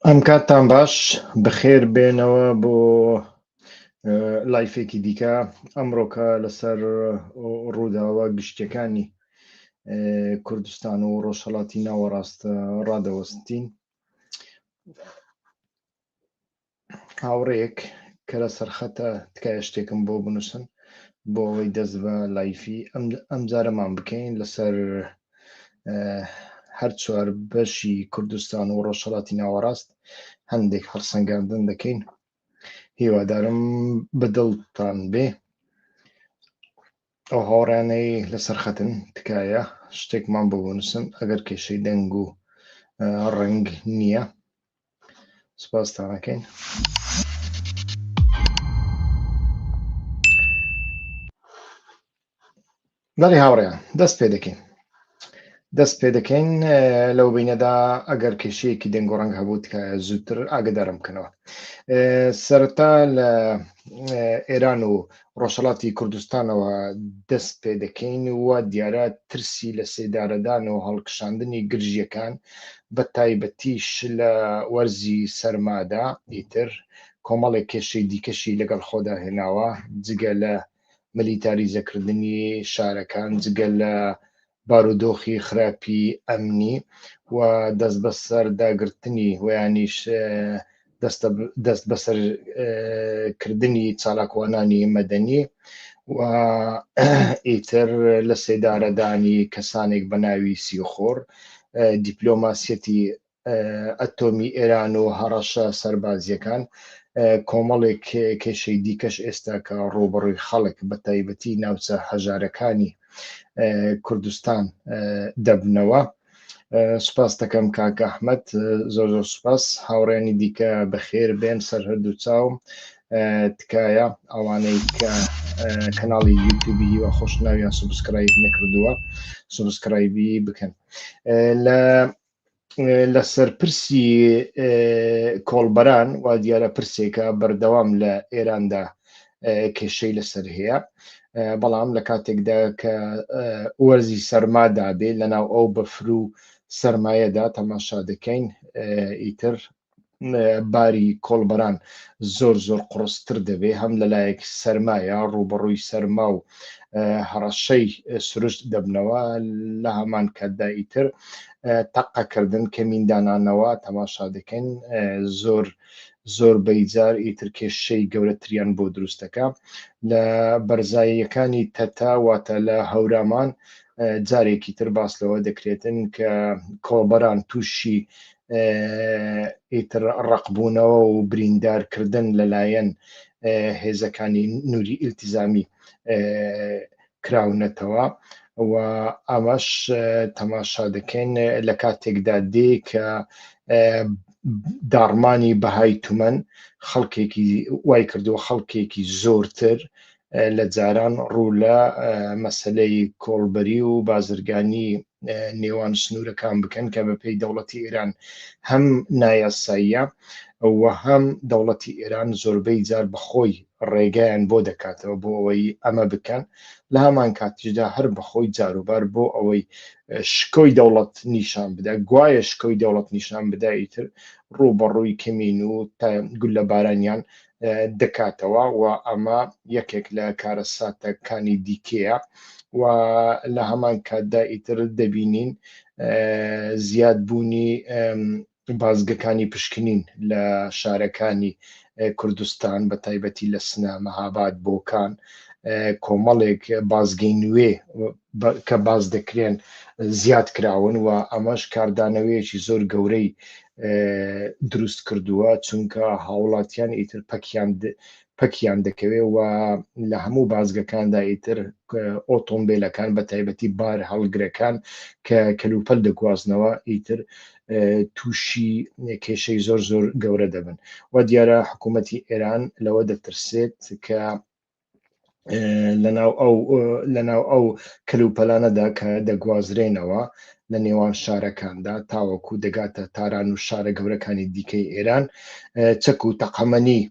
ئەم کاتتان باش بخێر بێنەوە بۆ لایفێکی دیکە ئەمڕۆکە لەسەر ڕووداوە گشتەکانی کوردستان و ڕۆژهڵاتی ناوەڕاستە ڕادەوەستین هاوڕێیەک کە لە سەرخەتە تکایە شتێکم بۆ بنووسن بۆ ئەوەی دەست بە لایفی ئەم جارەمان بکەین لەسەر هەر چوار بەشی کوردستان و ڕۆژهڵاتی ناوەڕاست هەندێک هەڵسەنگاندن دەکەین هیوادارم بەدڵتان بێ ئەو هاوڕانەی لەسەر خەتن تکایە شتێکمان بۆ بنووسن ئەگەر کێشەی دەنگ و ڕنگ نییە سپاستانەکەین بەڵی هاوڕێیان دەست پێ دەکەین دەست پێ دەکەین لەو بینەدا ئەگەر کێشەیەکی دەنگ و ڕەنگ هەبوو تکایە زووتر ئاگدارم بکەنەوە سەرتا لە ئێران و ڕۆژهەڵاتی کوردستانەوە دەست پێ دەکەین و وا دیارە ترسی لە سێدارەدان و هەڵکشاندنی گرژییەکان بە تایبەتیش لە وەرزی سەرمادا ئیتر کۆمەڵێک کێشەی دیکەشی لەگەڵ خۆدا هێناوە جگە لە ملیتاریزەکردنی شارەکان جگە لە بارودۆخی خراپی ئەمنی و دەستبەسەرداگرتنی و یانیش دەستبەسەرکردنی چالاکوانانی مەدەنی و ئیتر لەسێدارەدانی کەسانێک بەناوی سیخوڕ، دیپلۆماسیەتی ئەتۆمی ئێران و هەڕەشە سەربازییەکان، کۆمەڵێک کێشەی دیکەش ئێستا کە ڕووبەڕووی خەڵک بە تایبەتی ناوچە هەژارەکانی کوردستان دەبنەوە. سوپاس دەکەم کاک ئەحمد زۆر زۆر سوپاس هاوڕێنی دیکە بەخێر بێن سەر هەردوو چاوم تکایە ئەوانەی کە کەناڵی یوتوبی هیوا خۆش ناویان سوبسکرایب نەکردووە سوبسکرایبی بکەن لە لە سەرپرسی کۆڵبەران و دیارە پرسێکە بەردەوام لە ئێراندا کێشەی لەسەر هەیە بەڵام لە کاتێکدا کە وەرزی سەرمادا بێ لەناو ئەو بەفر و سرمایەدا تەماشا دەکەین ئیتر باری کۆڵبەران زۆر زۆر قوڕستر دەبێت، هەم لەلایەک سەرمایە ڕووبەڕووی سەرما و هەڕەشەی سروشت دەبنەوە، لە هەمان کاتدا ئیتر تەقەکردن، کەمیندانانەوە تەماشا دەکەین، زۆر زۆربەی جار ئیتر کێشەی گەورەتریان بۆ دروست دەکا. لە بەرزاییەکانی تەتە واتە لە هەورامان جارێکی تر باس لەوە دەکرێتن کە کۆڵبەران تووشی ئیتر ڕقبوونەوە و بریندارکردن لەلایەن هێزەکانی نووری ئیلتیزامی کراونەتەوە و ئەمەش تەماشا دەکەین لە کاتێکدا دێ کە داڕمانی بەهای تومەن خەڵکێکی وای کردووە خەڵکێکی زۆرتر لە جاران ڕوو لە مەسەلەی کۆڵبەری و بازرگانی نێوان سنوورەکان بکەن کە بەپێی دەوڵەتی ئێران هەم نایاساییە و هەم دەوڵەتی ئێران زۆربەی جار بەخۆی ڕێگەیان بۆ دەکاتەوە بۆ ئەوەی ئەمە بکەن لە هەمان کاتیشدا هەر بەخۆی جاروبار بۆ ئەوەی شکۆی دەوڵەت نیشان بدا گوایە شکۆی دەوڵەت نیشان بدایتر ڕوو بەڕووی کەمین و تا گولە بارانیان دەکاتەوە و ئەمە یەکێک لە کارەساتە کانی دیکەیە و لە هەمان کاتدا ئیتر دەبینین زیاد بوونی بازگەکانی پشکنین لە شارەکانی کوردستان بە تایبەتی لە سنە مەهاباد بۆکان کۆمەڵێک بازگەی نوێ کە باس دەکرێن زیاد کراون و ئەمەش کاردانەوەیەکی زۆر گەورەی دروست کردووە چونکە هاوڵاتیان ئیتر پەکیان پەکیان دەکەوێ و لە هەموو بازگەکاندا ئیتر ئۆتۆمبیلەکان بە تایبەتی بار هەڵگرەکان کە کەلوپەل دەگوازنەوە ئیتر تووشی کێشەی زۆر زۆر گەورە دەبن و دیارە حکوومەتی ئێران لەوە دەترسێت کە لەناو ئەو لەناو ئەو کەلوپەلانەدا کە دەگوازرێنەوە لە نێوان شارەکاندا تاوەکو دەگاتە تاران و شارە گەورەکانی دیکەی ئێران چەک و تەقەمەنی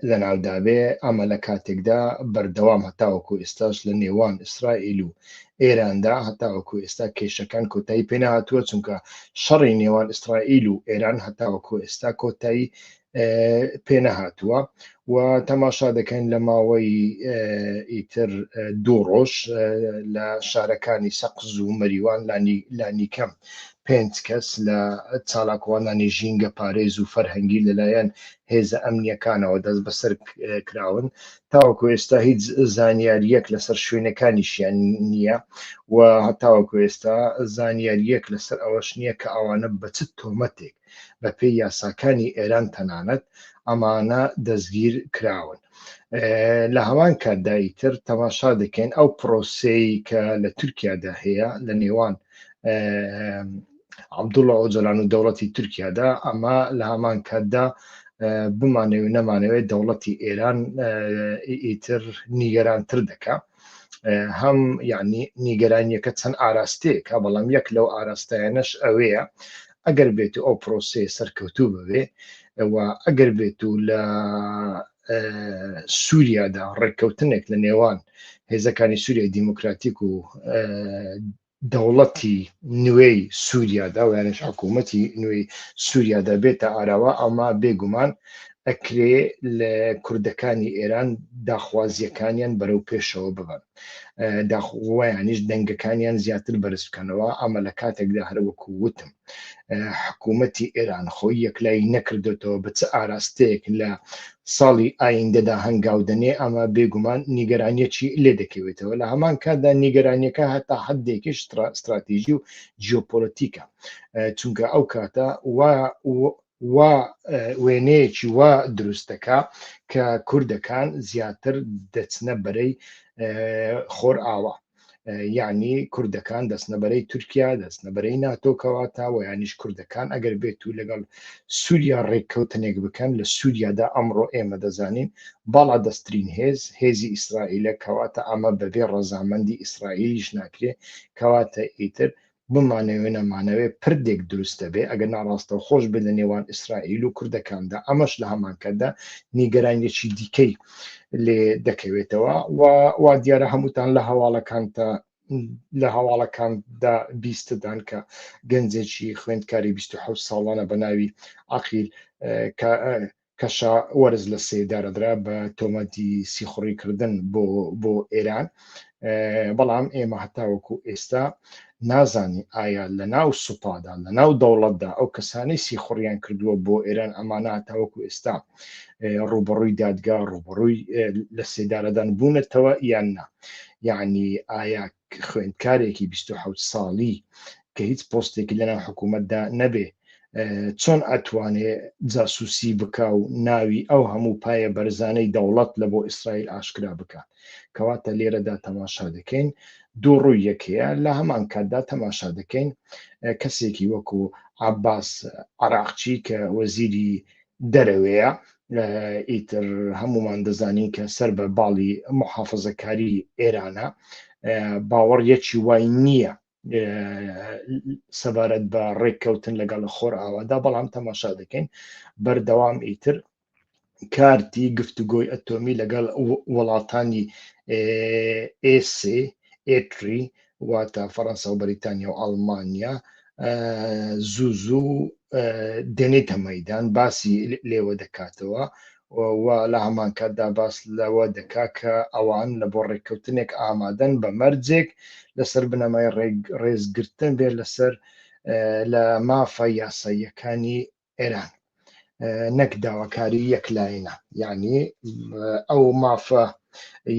لەناودابێ ئەمە لە کاتێکدا بەردەوام هەتاوەکو ئێستاش لە نێوان ئیسرائیل و ئێراندا هەتاوەکو ئێستا کێشەکان کۆتایی پێناهاتووە چونکە شەڕی نێوان ئیسرائیل و ئێران هەتاوەکو ئێستا کۆتایی پێنەهاتووە و تەماشا دەکەین لە ماوەی ئیتر دوو ڕۆژ لە شارەکانی سەقز و مەریوان لانیکەم پێنج کەس لە چالاکوانانی ژینگە پارێز و فەرهەنگی لەلایەن هێزە ئەمنیەکانەوە دەست بەسەر کراون تاوەکو ئێستا هیچ زانیاریەک لەسەر شوێنەکانیشیان نییە و هەتاوەکو ئێستا زانیاریەک لەسەر ئەوەش نییە کە ئەوانە بەچ تۆمەتێک بە پێی یاساکانی ئێران تەنانەت ئەمانە دەستگیر کراون لە هەمان کاتدا ئیتر تەماشا دەکەین ئەو پرۆسەی کە لە تورکیادا هەیە لە نێوان عبدوڵە ئۆجلان و دەوڵەتی تورکیادا ئەمە لە هەمان کاتدا بمانەوە نەمانەوەی دەوڵەتی ئێران ئیتر نیگەرانتر دەکە هەم یعنی نیگەرانیەکە چەند ئاراستەیەکە بەڵام یەک لەو ئاراستایانەش ئەوەیە ئەگەر بێت و ئەو پرۆسەیە سەرکەوتوو ببێ و ئەگەر بێت و لە سووریادا ڕێککەوتنێک لە نێوان هێزەکانی سووریای دیموکراتیک و دەوڵەتی نوێی سووریادا و یانش حکوومەتی نوێی سووریادا بێتە ئاراوە ئەما بێگومان ئەکرێ لە کوردەکانی ئێران داخوازیەکانیان بەرەو پێشەوە ببن. داخوایانیش دەنگەکانیان زیاتر بەرز بکەنەوە ئەمە لە کاتێکدا هەروەکو وتم حکوومەتی ئێران خۆی یەکلای نەکردێتەوە بە چ ئاراستەیەک لە ساڵی ئایندەدا هەنگاودنێ ئەمە بێگومان نیگەرانیەکی لێ دەکەوێتەوە لە هەمان کاتدا نیگەرانیەکە هەتا حدێکیش استراتیژی و جیۆپۆلتیکە چونکە ئەو کاتە وا وێنەیەکی وا دروست دەکا کە کوردەکان زیاتر دەچنە بەرەی خۆر ئاوا یعنی کوردەکان دەستنەبەرەی تورکیا دەستنەبەرەی ناتۆکەواتە و یانیش کوردەکان ئەگەر بێت و لەگەڵ سووریا ڕێککەوتنێک بکەن لە سووریادا ئەمڕۆ ئێمە دەزانین باڵا دەستترین هێز هێزی ئیسرائیلە کەواتە ئەمە بەبێ ڕەزامەندی ئیسرائیلیش ناکرێ کەواتە ئیتر بمانەوێ نەمانەوێ پردێک دروست دەبێ، ئەگەرنا ڕاستەوخۆش بێ لە نێوان ئیسرائیل و کوردەکاندا، ئەمەش لە هەمانکاتدا نیگەرانییەکی دیکەی لێ دەکەوێتەوە و وا دیارە هەمووتان لە هەواڵەکانتا لە هەواڵەکاندا بیستدان کە گەنجێکی خوێندکاری 26 ساڵانە بە ناوی عقیل کەشا وەرز لە سێدا دەدرا بە تۆمەتی سیخوڕیکردن بۆ بۆ ئێران بەڵام ئێمە هەتاوەکو ئێستا نازانی ئایا لە ناو سوپادا لە ناو دەوڵەتدا ئەو کەسانی سیخوڕیان کردووە بۆ ئێران ئەمانە هەتاوەکو ئێستا ڕوبڕووی دادگا ڕوبڕووی لە سێدارەدان بوونەتەوە یان نا یعنی ئایا خوێندکارێکی بیست و حەوت ساڵی کە هیچ پۆستێکی لەناو حکوومەتدا نەبێ چۆن ئەتوانێ جاسوسی بکا و ناوی ئەو هەموو پایە بەرزانەی دەوڵەت لە بۆ ئیسرائیل ئاشکرا بکات کەواتە لێرەدا تەماشا دەکەین دوو ڕووی یەکەیە لە هەمان کاتدا تەماشا دەکەین کەسێکی وەکو عباس عراقچی کە وەزیری دەرەوەیە ئیتر هەمومان دەزانین کە سەر بە باڵی محافزەکاری ئێرانە باوەڕ یەکی وای نییە سەبارەت بە ڕێککەوتن لەگەڵ خۆر ئاوادا بەڵام تەماشا دەکەین بەردەوام ئیتر کارتی گفتوگۆی ئەتۆمی لەگەڵ وڵاتانی ئێسێ ئێتری واتە فەڕەنسا و بەریتانیا و ئەڵمانیا زوو زوو دێنێتە مەدان باسی لێوە دەکاتەوە و لە هەمانکاتدا باس لەوە دەکا کە ئەوان لە بۆ ڕێککەوتنێک ئامادەن بە مەرجێک لەسەر بنەمای ڕێزگرتن بێت لەسەر لە مافە یاساییەکانی ئێران نەک داواکاری یەک لایەنە یعنی ئەو مافە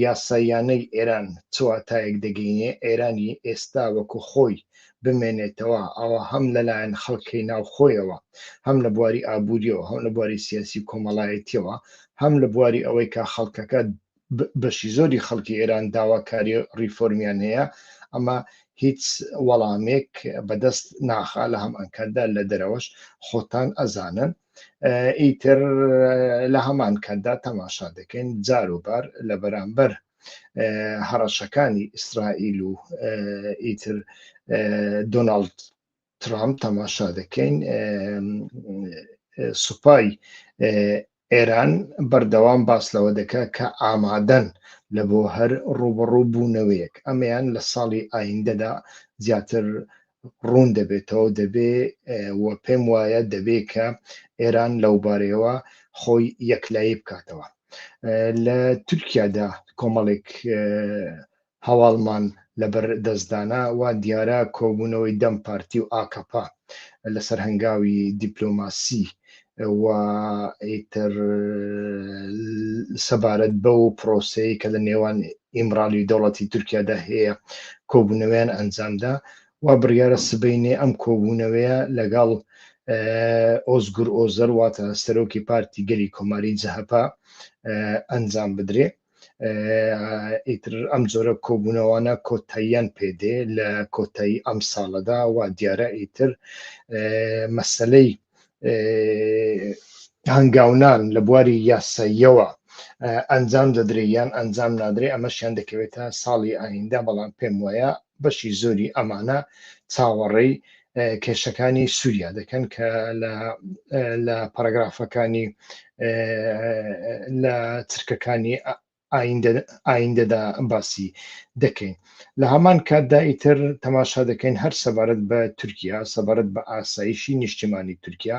یاساییانەی ئێران چواتایەک دەگەینێ ئێرانی ئێستا وەکو خۆی بمێنێتەوە ئەوە هەم لەلایەن خەڵکی ناوخۆیەوە هەم لە بواری ئابووریەوە هەم لە بواری سیاسی کۆمەڵایەتیەوە هەم لە بواری ئەوەی کە خەڵکەکە بەشی زۆری خەڵکی ئێران داواکاری ڕیفۆرمیان هەیە ئەمە هیچ وەڵامێک بەدەست ناخا لە هەم ئەنکەردا لە دەرەوەش خۆتان ئەزانن ئیتر لە هەمان کەدا تەماشا دەکەین جاروبار لە بەرامبەر هەڕەشەکانی ئیسرائیل و ئیتر دۆناالد ترامپ تەماشا دەکەین سوپای ئێران بەردەوام باس لەوە دەکات کە ئامادەن لە بۆ هەر ڕوبڕوو بوونەوەیەک ئەمەیان لە ساڵی ئایندەدا زیاتر ڕوون دەبێتەوە دەبێ و پێم وایە دەبێ کە ئێران لەو بارەیەوە خۆی یەکلایی بکاتەوە لە تورکیادا کۆمەڵێک هەواڵمان لەبەر دەست دانا وا دیارە کۆبوونەوەی دەم پارتی و ئاکەپە لەسەر هەنگاوی دیپلۆماسی و ئیتر سەبارەت بەو پرۆسەیە کە لە نێوان ئیمرالی دەوڵەتی تورکیادا هەیە کۆبوونەوەیان ئەنجامدا و بڕیارە سبەینێ ئەم کۆبوونەوەیە لەگەڵ ئۆزگور ئۆزەر واتە سەرۆکی پارتی گەلی کۆماری جەهەپە ئەنجام بدرێ ئیتر ئەم جۆرە کۆبوونەوانە کۆتاییان پێدێ لە کۆتایی ئەم ساڵەدا و دیارە ئیتر مەسلەی هەنگاونان لە بواری یاساییەوە ئەنجام دەدرێ یان ئەنجام نادرێ ئەمەشیان دەکەوێتە ساڵی ئایندە بەڵام پێم وایە بەشی زۆری ئەمانە چاوەڕێی کێشەکانی سووریا دەکەن کە لە پەرەگرافەکانی لە چرکەکانی ئایندەدا باسی دەکەین لە هەمان کاتدا ئیتر تەماشا دەکەین هەر سەبارەت بە تورکیا سەبارەت بە ئاسایشی نیشتیمانی تورکیا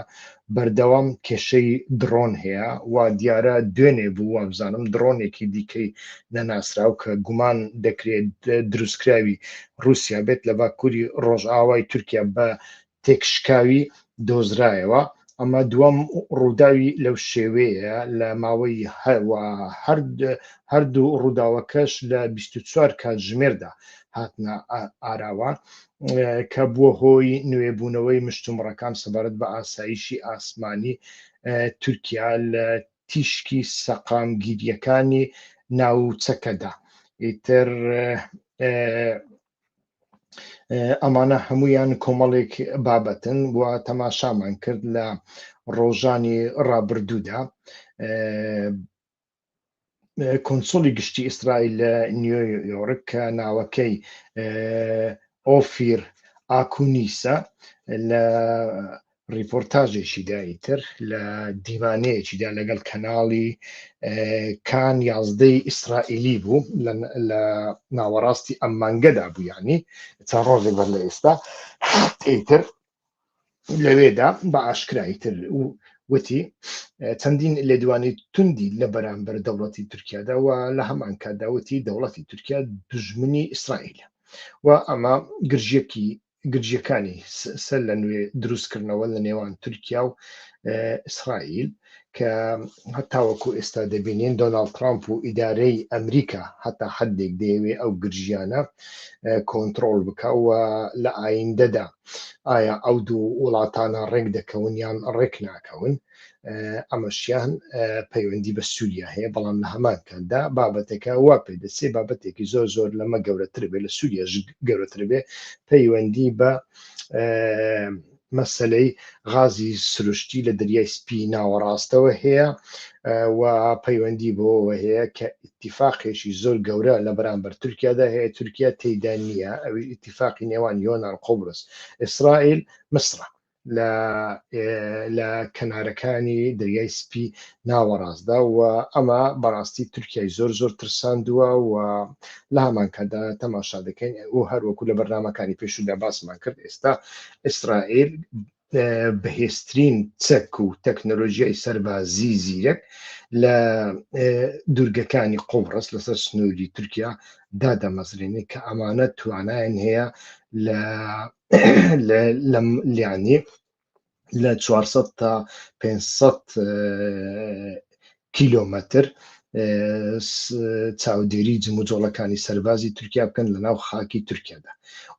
بەردەوام کێشەی دڕۆن هەیە و دیارە دوێنێ بوو وابزانم دڕۆنێکی دیکەی نەناسراو کە گومان دەکرێت دروستکراوی رووسیا بێت لە باکووری ڕۆژئاوای تورکیا بە تێکشکاوی دۆزرایەوە ئەمە دووەم ڕووداوی لەو شێوەیە لە ماوەی هەردوو ڕووداوەکەش لە 24 کاتژمێردا هاتنە ئاراوە کە بووە هۆی نوێبوونەوەی مشتومڕەکان سەبارەت بە ئاسایشی ئاسمانی تورکیا لە تیشکی سەقامگیریەکانی ناوچەکەدا ئیتر ئەمانە هەمویان کۆمەڵێک بابەتن و تەماشامان کرد لە ڕۆژانی ڕابردوودا کونسوڵی گشتی ئیسرائیل لە نیۆ یۆرک کە ناوەکەی ئۆفیر ئاکونیسە لە ڕیپۆرتاژێکی دایتر لە دیوانەیەکیدا لەگەڵ کەناڵی کان یازدەی ئیسرائیلی بوو لە ناوەڕاستی ئەم مانگەدا بوو ینی چەند ڕۆژێک بەر لە ئێستا ئیتر لەوێدا بە ئاشکرایی تر و وتی چەندین لێدوانی توندی لە بەرامبەر دەوڵەتی تورکیادا و لە هەمان کاتداوتی دەوڵەتی تورکیا دژمنی ئیسرائیل و ئەمە گرژیەکی گرژیەکانی سەر لە نوێ دروستکردنەوە لە نێوان تورکیا و ئیسرائیل کە هەتاوەکو ئێستا دەبینین دۆناالد ترامپ و ئیدارەی ئەمریکا هەتا حدێک دەیەوێ ئەو گرژیانە کۆنتترۆل بکە و لە ئایندەدا ئایا ئەو دوو وڵاتانە ڕێک دەکەون یان ڕێک ناکەون ئەمەشیان پەیوەندی بە سووریا هەیە بەڵام لە هەمان کاتدا بابەتەکە وا پێ دەچێ بابەتێکی زۆر زۆر لەمە گەورەتر بێ لە سووریا گەورەتر بێ پەیوەندی بە مەسلەی غازی سروشتی لە دەریای سپی ناوەڕاستەوە هەیە و پەیوەندی بۆەوە هەیە کە ئیتیفاقێکی زۆر گەورە لە بەرامبەر تورکیادا هەیە تورکیا تێیدا نییە ئەویش ئیتیفاقی نێوان یۆنان قوبرس ئیسرائیل میسرە لە لە کەنارەکانی دەریای سپی ناوەڕاستدا و ئەمە بەڕاستی تورکیای زۆر زۆر ترساندووە و لە هەمانکادا تەماشا دەکەین ئەو هەروەکو لە بەرنمەکانی پێشودا باسمان کرد ئێستا ئیسرائیل بەهێزترین چەک و تەکنەلۆژیای سەربازی زیرەک لە دوورگەکانی قۆڕس لەسەر سنووری تورکیا دادەمەزرێنێ کە ئەمانە توانایان هەیە لە لیانێ لە 400 تا 500 کیلۆمەتر چاودێری جموجۆڵەکانی سەربازی تورکیا بکەن لە ناو خاکی تورکیادا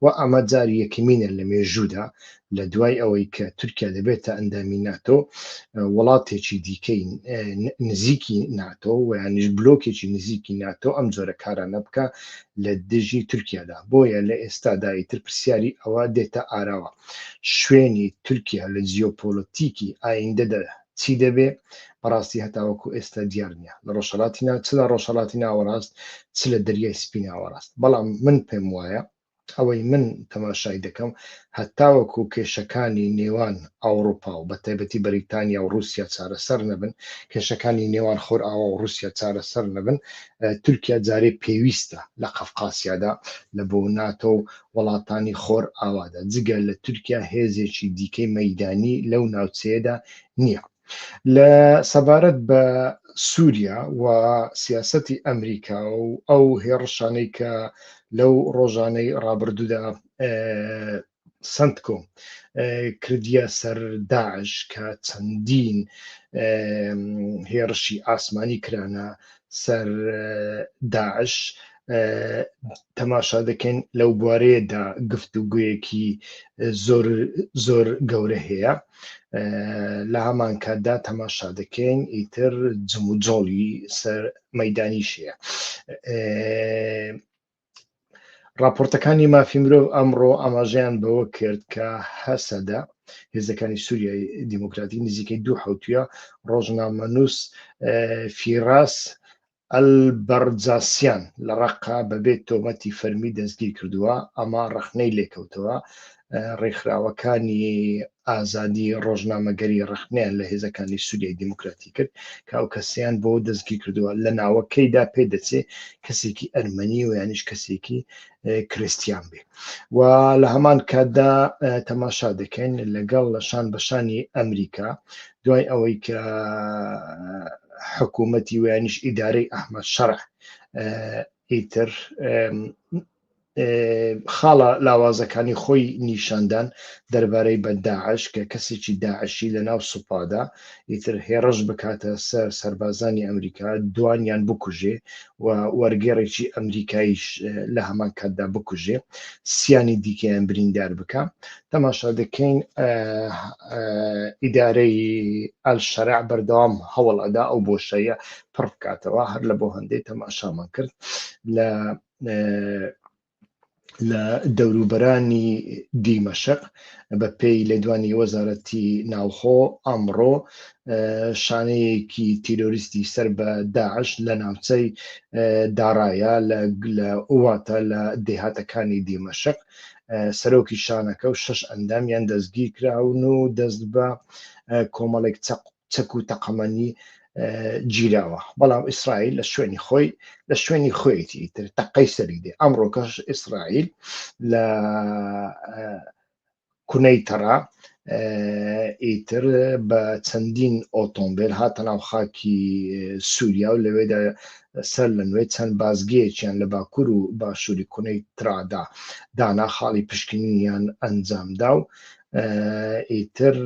و ئەمە جار یەکمینە لە مێژوودا لە دوای ئەوەی کە تورکیا دەبێتە ئەندامی ناتۆ وڵاتێکی دیکەی نزیکی ناتۆ و یانیش بلۆکێکی نزیکی ناتۆ ئەم جۆرە کارانە بکە لە دژی تورکیادا بۆیە لە ئێستادایی تر پرسیاری ئەوە دێتە ئاراوە شوێنی تورکیا لە جیۆپۆلتیکی ئایندەدا چی دەبێ بەڕاستی هەتاوەکو ئێستا دیار نییە لە ڕۆژهەڵاتی نا چ لە ڕۆژهەڵاتی ناوەڕاست چ لە دەریای سپی ناوەڕاست بەڵام من پێم وایە ئەوەی من تەماشای دەکەم هەتاوەکو کێشەکانی نێوان ئەوروپا و بە تایبەتی بەریتانیا و رووسیا چارەسەر نەبن کێشەکانی نێوان خۆر ئاوا و رووسیا چارەسەر نەبن تورکیا جارێ پێویستە لە قەفقاسیادا لە بۆ ناتۆ وڵاتانی خۆرئاوادا، جگە لە تورکیا هێزێکی دیکەی مەیدانی لەو ناوچەیەدا نییە. لە سەبارەت بە سووریا و سیاسەتی ئەمریکا و ئەو هێڕشانەی کە لەو ڕۆژانەی ڕابردوودا سنتکۆم کردە سەر داعش کە چەندین هێڕشی ئاسمانی کرانە سەر داعش تەماشا دەکەین لەو بوارەیەدا گفت و گویەکی زۆر زۆر گەورە هەیە لە هەمان کاتدا تەماشا دەکەین ئیتر جموجۆڵی سەر مەدانی شەیە راپۆرتەکانی مافی مرۆڤ ئەمڕۆ ئاماژەیان بەوە کرد کە هەسەدە هێزەکانی سووریای دیموکراتی نزیکەی دوو حوتە ڕۆژنامەنووس فیراس ئەلبەرجاسیان لە ڕەققە بەبێ تۆمەتی فەرمی دەستگیرکردووە، ئەمە ڕەخنەی لێکەوتەوە، ڕێکخراوەکانی ئازادی ڕۆژنامەگەری ڕەخنەیان لە هێزەکانی سوریای دیموکراتی کرد کە ئەو کەسیان بۆ دەستگیرکردووە، لە ناوەکەیدا پێدەچێ کەسێکی ئەرمەنی و یانیش کەسێکی کریستیان بێ و لە هەمان کاتدا تەماشا دەکەین لەگەڵ لە شان بەشانی ئەمریکا دوای ئەوەی کە حکوومەتی ویانیش ئیدارەی ئەحمد شەڕ ئیتر خاڵە لاوازەکانی خۆی نیشاندان دەربارەی بە داعش کە کەسێکی داعشی لە ناو سوپادا ئیتر هێڕش بکاتە سەر سربازانی ئەمریکا دوانیان بکوژێ و وەرگێڕێکی ئەمریکایش لە هەمان کاتدا بکوژێ سیانی دیکەیان بریندار بکە تەماشا دەکەین ئیدارەی ئەلشەرع بەردەوام هەوڵ ئەدا ئەو بۆشەیە پڕ بکاتەوە هەر لە بۆ هەندەی تەماشامان کرد لە لە دەوروبەرانی دیمەشق بە پێی لێدوانی وەزارەتی ناوخۆ ئەمڕۆ شانەیەکی تیرۆریستی سەر بە داعش لە ناوچەی داڕایە لە ئوواتە لە دێهاتەکانی دیمەشق سەرۆکی شانەکە و شەش ئەندامیان دەستگیر کراون و دەست بە کۆمەڵێک چەک و تەقەمەنی گیراوە بەڵام ئیسرائیل لە شوێنی خۆی لە شوێنی خۆیەتی تر تەقەی سەری دێ ئەمڕۆکەش ئیسرائیل لە کونەی تەڕا ئیتر بە چەندین ئۆتۆمبیل هاتە ناو خاکی سووریا و لەوێدا سەر لە نوێ چەند بازگەیەکیان لە باکوور و باشووری کونەی ترادا دانا خاڵی پشکنینیان ئەنجامدا و ئیتر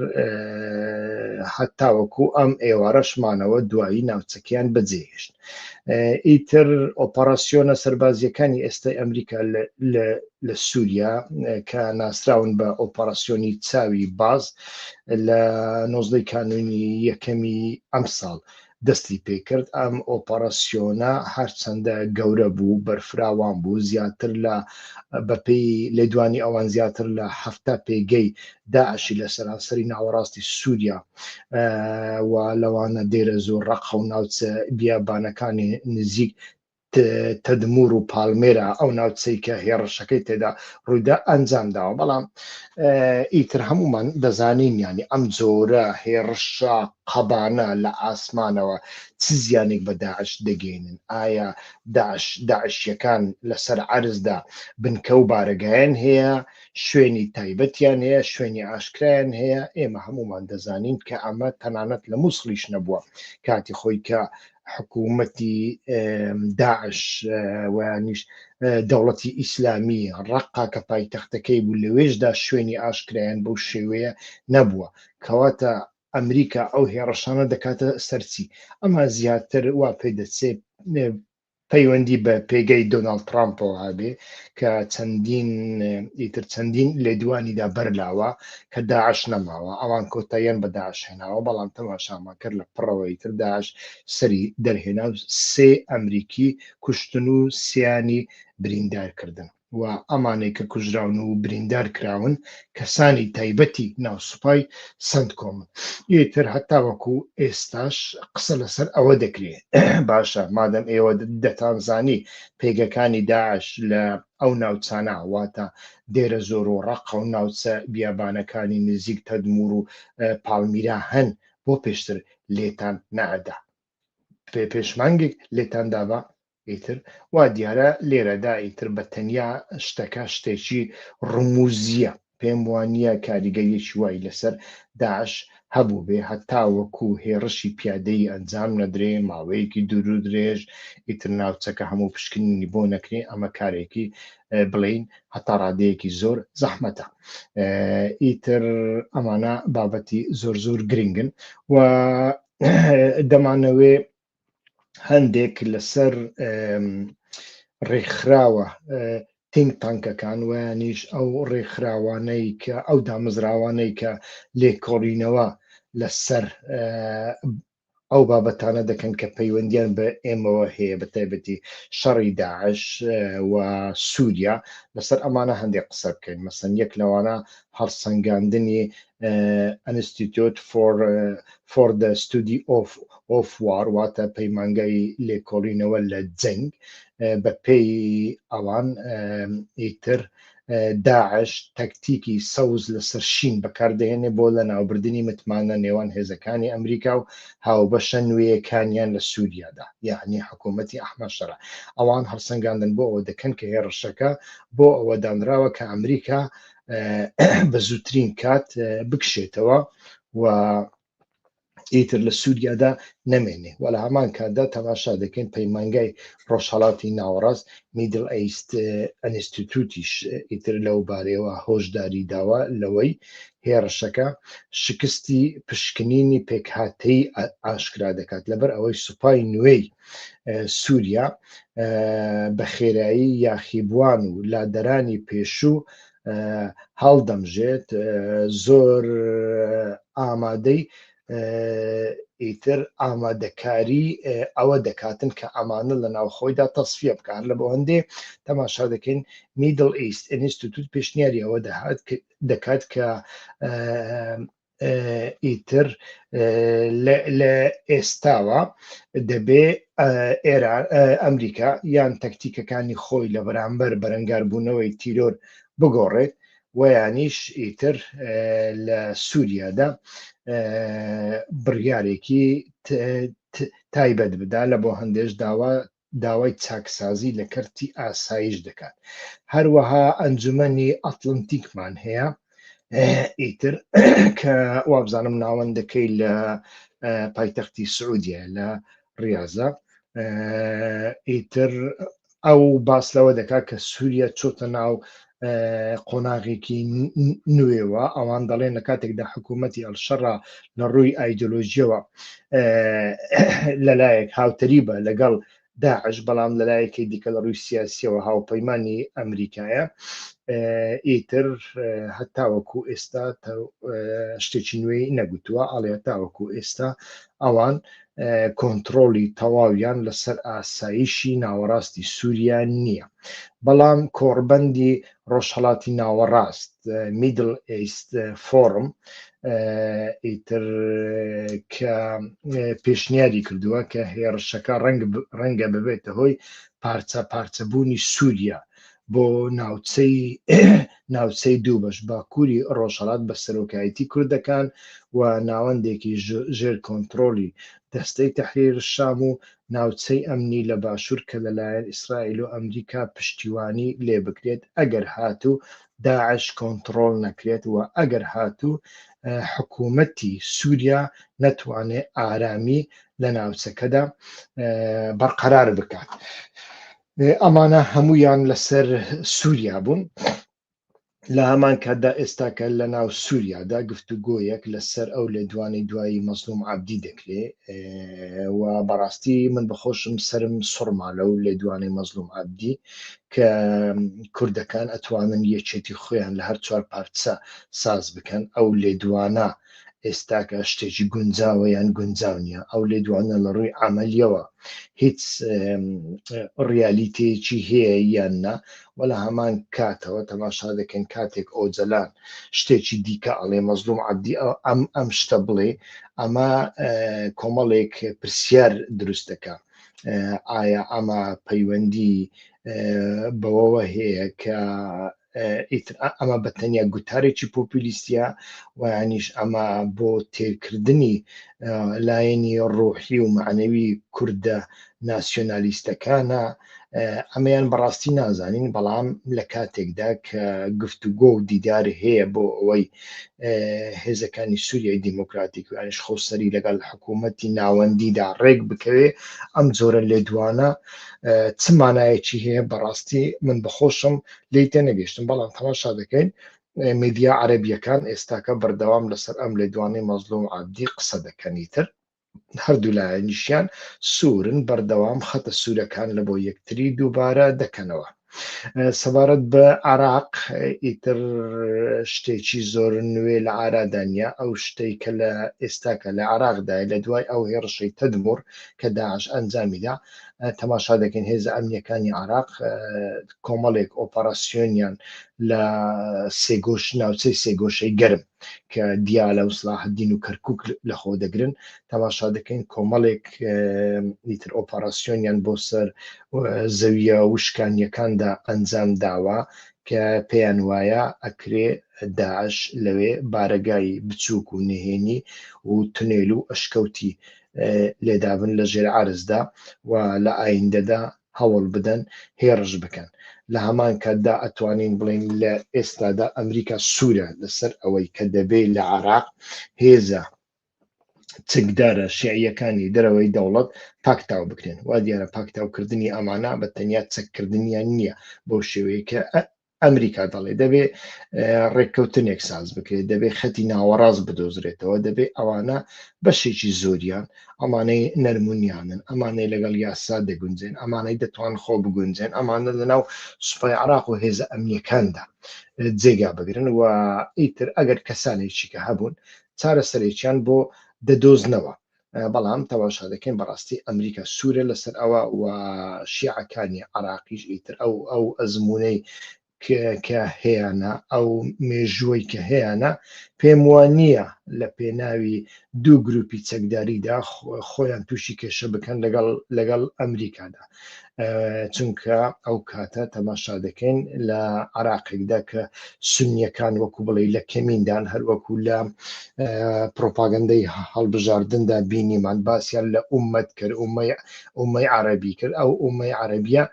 هەتاوەکو ئەم ئێوارەشمانەوە دوایی ناوچەکەیان بەجێهێشت ئیتر ئۆپەراسیۆنە سەربازیەکانی ئێستای ئەمریکا لە سووریا کە ناسراون بە ئۆپەراسیۆنی چاوی باز لە نۆزدەی کانونی یەکەمی ئەم ساڵ دەستی پێکرد ئەم ئۆپەراسیۆنە هەرچەندە گەورە بوو بەرفراوان بوو زیاتر لە بەپی لێدوانی ئەوان زیاتر لە هەفتا پێگەی داعشی لە سەرانسەری ناوەڕاستی سووریا و لەوانە دێرە زۆر ڕەقە و ناوچە بیابانەکانی نزیک تەدمور و پالمێرا ئەو ناوچەی کە هێڕشەکەی تێدا ڕوویدا ئەنجام داوە بەڵام ئیتر هەمومان دەزانین ینی ئەم جۆرە هێڕشە قەبانە لە ئاسمانەوە چ زیانێک بە داعش دەگەێنن ئایا داعش داعشیەکان لەسەر عرزدا بنکە و بارەگایان هەیە شوێنی تایبەتیان هەیە، شوێنی ئاشکرایان هەیە، ئێمە هەموومان دەزانین کە ئەمە تەنانەت لە مووسڵیش نەبووە کاتی خۆی کە حکوومەتی داعش ویانیش دەوڵەتی ئیسلامی ڕقا کە پایتەختەکەی بوو لەوێشدا شوێنی ئاشکرایان بەو شێوەیە نەبووە کەواتە ئەمریکا ئەو هێڕەشانە دەکاتە سەرچی ئەمە زیاتر وا پێ دەچێت پەیوەندی بە پێگەی دۆناڵد ترامپەوە هەبێ کە چەندین ئیتر چەندین لێدوانیدا بەرلاوە کە داعش نەماوە ئەوان کۆتاییان بە داعش هێناوە بەڵام تەماشامان کرد لە پڕەوە ئیتر داعش سەری دەرهێنا و سێ ئەمریکی کوشتن و سیانی بریندار کردن. و ئەمانەی کە کوژراون و بریندار کراون کەسانی تایبەتی ناو سوپای سەنتکۆمن. ئیتر هەتاوەکو ئێستاش قسە لەسەر ئەوە دەکرێ. باشە مادەم ئێوە دەتانزانی پێگەکانی داعش لە ئەو ناوچانە واتە دێرەزۆر و ڕەقە و ناوچە بیابانەکانی نزیک تەدموور و پاڵمیرا هەن بۆ پێشتر لێتان نەئەدا؟ پێش مانگێک لێتان دابا؟ ئیتر وا دیارە لێرەدا ئیتر بە تەنیا شتەکە شتێکی ڕمووزییە، پێم وا نییە کاریگەریەکی وای لەسەر داعش هەبووبێ هەتاوەکو هێڕشی پیادەیی ئەنجام نەدرێ، ماوەیەکی دوورودرێژ ئیتر ناوچەکە هەموو پشکنینی بۆ نەکرێ، ئەمە کارێکی بڵێین هەتا ڕادەیەکی زۆر زەحمەتە. ئیتر ئەمانە بابەتی زۆر زۆر گرنگن و دەمانەوێ هەندێک لەسەر ڕێکخراوە تینگ تانکەکان ویانیش ئەو ڕێکخراوانەی کە ئەو دامەزراوانەی کە لێکۆڵینەوە لەسەر ئەو بابەتانە دەکەن کە پەیوەندیان بە ئێمەوە هەیە بە تایبەتی شەڕی داعش و سووریا لەسەر ئەمانە هەندێک قسە بکەین مەسەن یەک لەوانە هەڵسەنگاندنی ئەنستیتۆت فۆر فۆر دە ستودی ئۆف ئۆف وار واتە پەیمانگای لێکۆڵینەوە لە جەنگ بە پێی ئەوان ئیتر داعش تەکتیکی سەوز لەسەر شین بەکاردەهێنێ بۆ لە ناوبردنی متمانە نێوان هێزەکانی ئەمریکا و هاوبەشە نوێیەکانیان لە سووریادا یعنی حکوومەتتی ئەحمەشەرە ئەوان هەڵسەنگاندن بۆ ئەوە دەکەن کە هێڕشەکە بۆ ئەوە دانراوە کە ئەمریکا بە زووترین کات بکشێتەوە و ئیتر لە سووریادا نەمێنێ و لە هەمان کاتدا تەماشا دەکەین پەیمانگای ڕۆژهڵاتی ناوەڕاست میدل ئەیست ئەنستیتوتیش ئیتر لەو بارەوە هۆشداری داوە لەوەی هێڕشەکە شکستی پشکنینی پێکهاتەی ئاشکرا دەکات لەبەر ئەوەی سوپای نوێی سووریا بە خێرایی یاخیبووان و لادەرانی پێشوو هەڵدەمژێت زۆر ئامادەی ئیتر ئامادەکاری ئەوە دەکاتن کە ئەمانە لە ناوخۆیدا تەسفە بکار لە بۆ هەندێ تەماشا دەکەین میدل ئیست ئینستیتوت پێشنیاری ئەوە دەهات دەکات کە ئیتر لە ئێستاوە دەبێ ئێران ئەمریکا یان تەکتیکەکانی خۆی لە بەرامبەر بەرەنگاربوونەوەی تیرۆر بگۆڕێت ویانیش ئیتر لە سووریادا بڕیارێکی تایبەت بدا لە بۆ هەندێش داوا داوای چاکسازی لە کەرتی ئاسایش دەکات هەروەها ئەنجومەنی ئەتلەنتیکمان هەیە ئیتر کە وابزانم ناوەندەکەی لە پایتەختی سعودیە لە ڕاضە ئیتر ئەو باس لەوە دەکات کە سووریا چۆتە ناو قۆناغێکی نوێوە ئەوان دەڵێن لە کاتێکدا حکوومەتتی ئەلشەڕا لە ڕووی ئایدۆلۆژیەوە لەلایەک هاوتەری بە لەگەڵ داعش بەڵام لەلایەکی دیکە لە ڕووی سیاسیەوە هاوپەیمانانی ئەمریکایە ئیتر هەتاوەکو ئێستا شتێکی نوێی نەگوتووە ئاڵێ تاوەکو ئێستا ئەوان کۆنتترۆڵی تەواویان لەسەر ئاسایشی ناوەڕاستی سووریا نییە بەڵام کۆڕبەندی ڕۆژهڵاتی ناوەڕاست میدل ئیست فۆرم ئیتر کە پێشنیاری کردووە کە هێڕشەکە ڕەنگە ببێتە هۆی پارچە پارچەبوونی سووریا بۆ ناوچەی ناوچەی دوو بەش باکووری ڕۆژهڵات بە سەرۆکایەتی کوردەکان و ناوەندێکی ژێر کۆنتترۆلی دەستەی تەحریر شام و ناوچەی ئەمنی لە باشوور کە لەلایەن ئیسرائیل و ئەمریکا پشتیوانی لێ بکرێت ئەگەر هاتوو داعش کۆنتترۆل نەکرێت و ئەگەر هاتوو حکوومەتی سووریا نەتوانێ ئارامی لە ناوچەکەدا بەرقەرار بکات. ئێ ئەمانە هەموویان لەسەر سووریا بوون لە هەمان کاتدا ئێستاکە لە ناو سووریادا گفت و گۆیەک لەسەر ئەو لێ دوانەی دوایی مەزلوم عبدی دەکرێ ئێ، و بەڕاستی من بخۆشم سرم سڕما لەو لێ دوانەی مەزلوم عبدی کە کوردەکان ئەتوانن یەکێتی خۆیان لە هەر چوار پارچە ساز بکەن ئەو لێ دوانە ئێستاکە شتێکی گونجاوە یان گونجاو نییە ئەو لێدوانە لە ڕووی عملیەوە هیچ ڕیالیتەیەکی هەیە یان نا و لە هەمان کاتەوە تەماشا دەکەن کاتێک ئۆجلان شتێکی دیکە ئەڵێ مەزلوم عبدی ئەم ئەم شتە بڵێ ئەمە کۆمەڵێک پرسیار دروستەکە ئایا ئەمە پەیوەندی بەوەوە هەیە کە ئیتر ئەمە بە تەنیا گوتارێکی پۆپیلیستە ویانیش ئەمە بۆ تێکردنی لایەنی ڕۆحی و معنەوی کووردە ناسیۆنالیستەکانە ئەمەیان بەڕاستی نازانین بەڵام لە کاتێکدا کە گفتوگۆ و دیدار هەیە بۆ ئەوەی هێزەکانی سووریای دیموکراتیک و ئەنیش خۆسەری لەگەڵ حکوومەتتی ناوەندیدا ڕێک بکەوێ ئەم جۆرە لێدوانە چمانایەکی هەیە بەڕاستی من بەخۆشم لی تێنەگەیشتم بەڵام تەماشا دەکەین میدیا عەربیەکان ئێستاکە بەردەوام لەسەر ئەم لە دوانەی مەزلوم عبدی قسە دەکەنیتر هەردوو لایەنیشیان سوورن بەردەوام خەتە سوورەکان لە بۆ یەکتری دووبارە دەکەنەوە سەبارەت بە عراق ئیتر شتێکی زۆر نوێ لە ئارادانیا ئەو شتەی کە لە ئێستاکە لە عراقدای لە دوای ئەو هێڕشەی تەدمور کە داعش ئەنجامیدا تەماشا دەکەین هێزە ئەمنیەکانی عراق کۆمەڵێک ئۆپەراسیۆنیان لە سێگۆش ناوچەی سێگۆشەی گەرم کە دیالە و سلاحدین و کەرکک لە خۆ دەگرن تەماشا دەکەین کۆمەڵێک ئیتر ئۆپەراسیۆنیان بۆ سەر زەویە وشکانیەکاندا ئەنجام داوە کە پێیان وایە ئەکرێ داعش لەوێ بارەگای بچووک و نهێنی و تونێل و ئەشکەوتی لێدابن لە ژێر عرزدا و لە ئایندەدا هەوڵ بدەن هێڕش بکەن. لە هەمان کاتدا ئەتوانین بڵێین لە ئێستادا ئەمریکا سوورە لەسەر ئەوەی کە دەبێ لە عێراق هێزە چەکدارە شیعییەکانی دەرەوەی دەوڵەت پاکتاو بکرێن. وا دیارە پاکتاوکردنی ئەمانە بە تەنیا چەککردنیان نییە بەو شێوەیە کە ئەمریکا دەڵێ دەبێ ڕێککەوتنێک ساز بکرێت دەبێ خەتی ناوەڕاست بدۆزرێتەوە دەبێ ئەوانە بەشێکی زۆریان ئەمانەی نەرمونیانن ئەمانەی لەگەڵ یاسا دەگونجێن ئەمانەی دەتوان خۆ بگونجێن ئەمانە لەناو سوپای عراق و هێزە ئەمنیەکاندا جێگا بگرن و ئیتر ئەگەر کەسانێکی کە هەبوون چارەسەرێکیان بۆ دەدۆزنەوە بەڵام تەماشا دەکەین بەڕاستی ئەمریکا سوورە لەسەر ئەوە و شیعەکانی عراقیش ئیتر ئەو ئەو ئەزمونەی کە هەیەە ئەو مێژووەی کە هەیەە پێم وە نییە لە پێناوی دوو گروپی چەکداریدا خۆیان تووشی کێشە بکەن لەگەڵ لەگەڵ ئەمریکادا چونکە ئەو کاتە تەماشا دەکەین لە عراقێکدا کە سنیەکان وەکو بڵێ لە کەمیندان هەروەکو لە پرۆپاگەندەی هەڵبژاردندا بینیمان باسییان لە عومەت کرد ئومەی عربی کرد ئەو ئومەی عربیە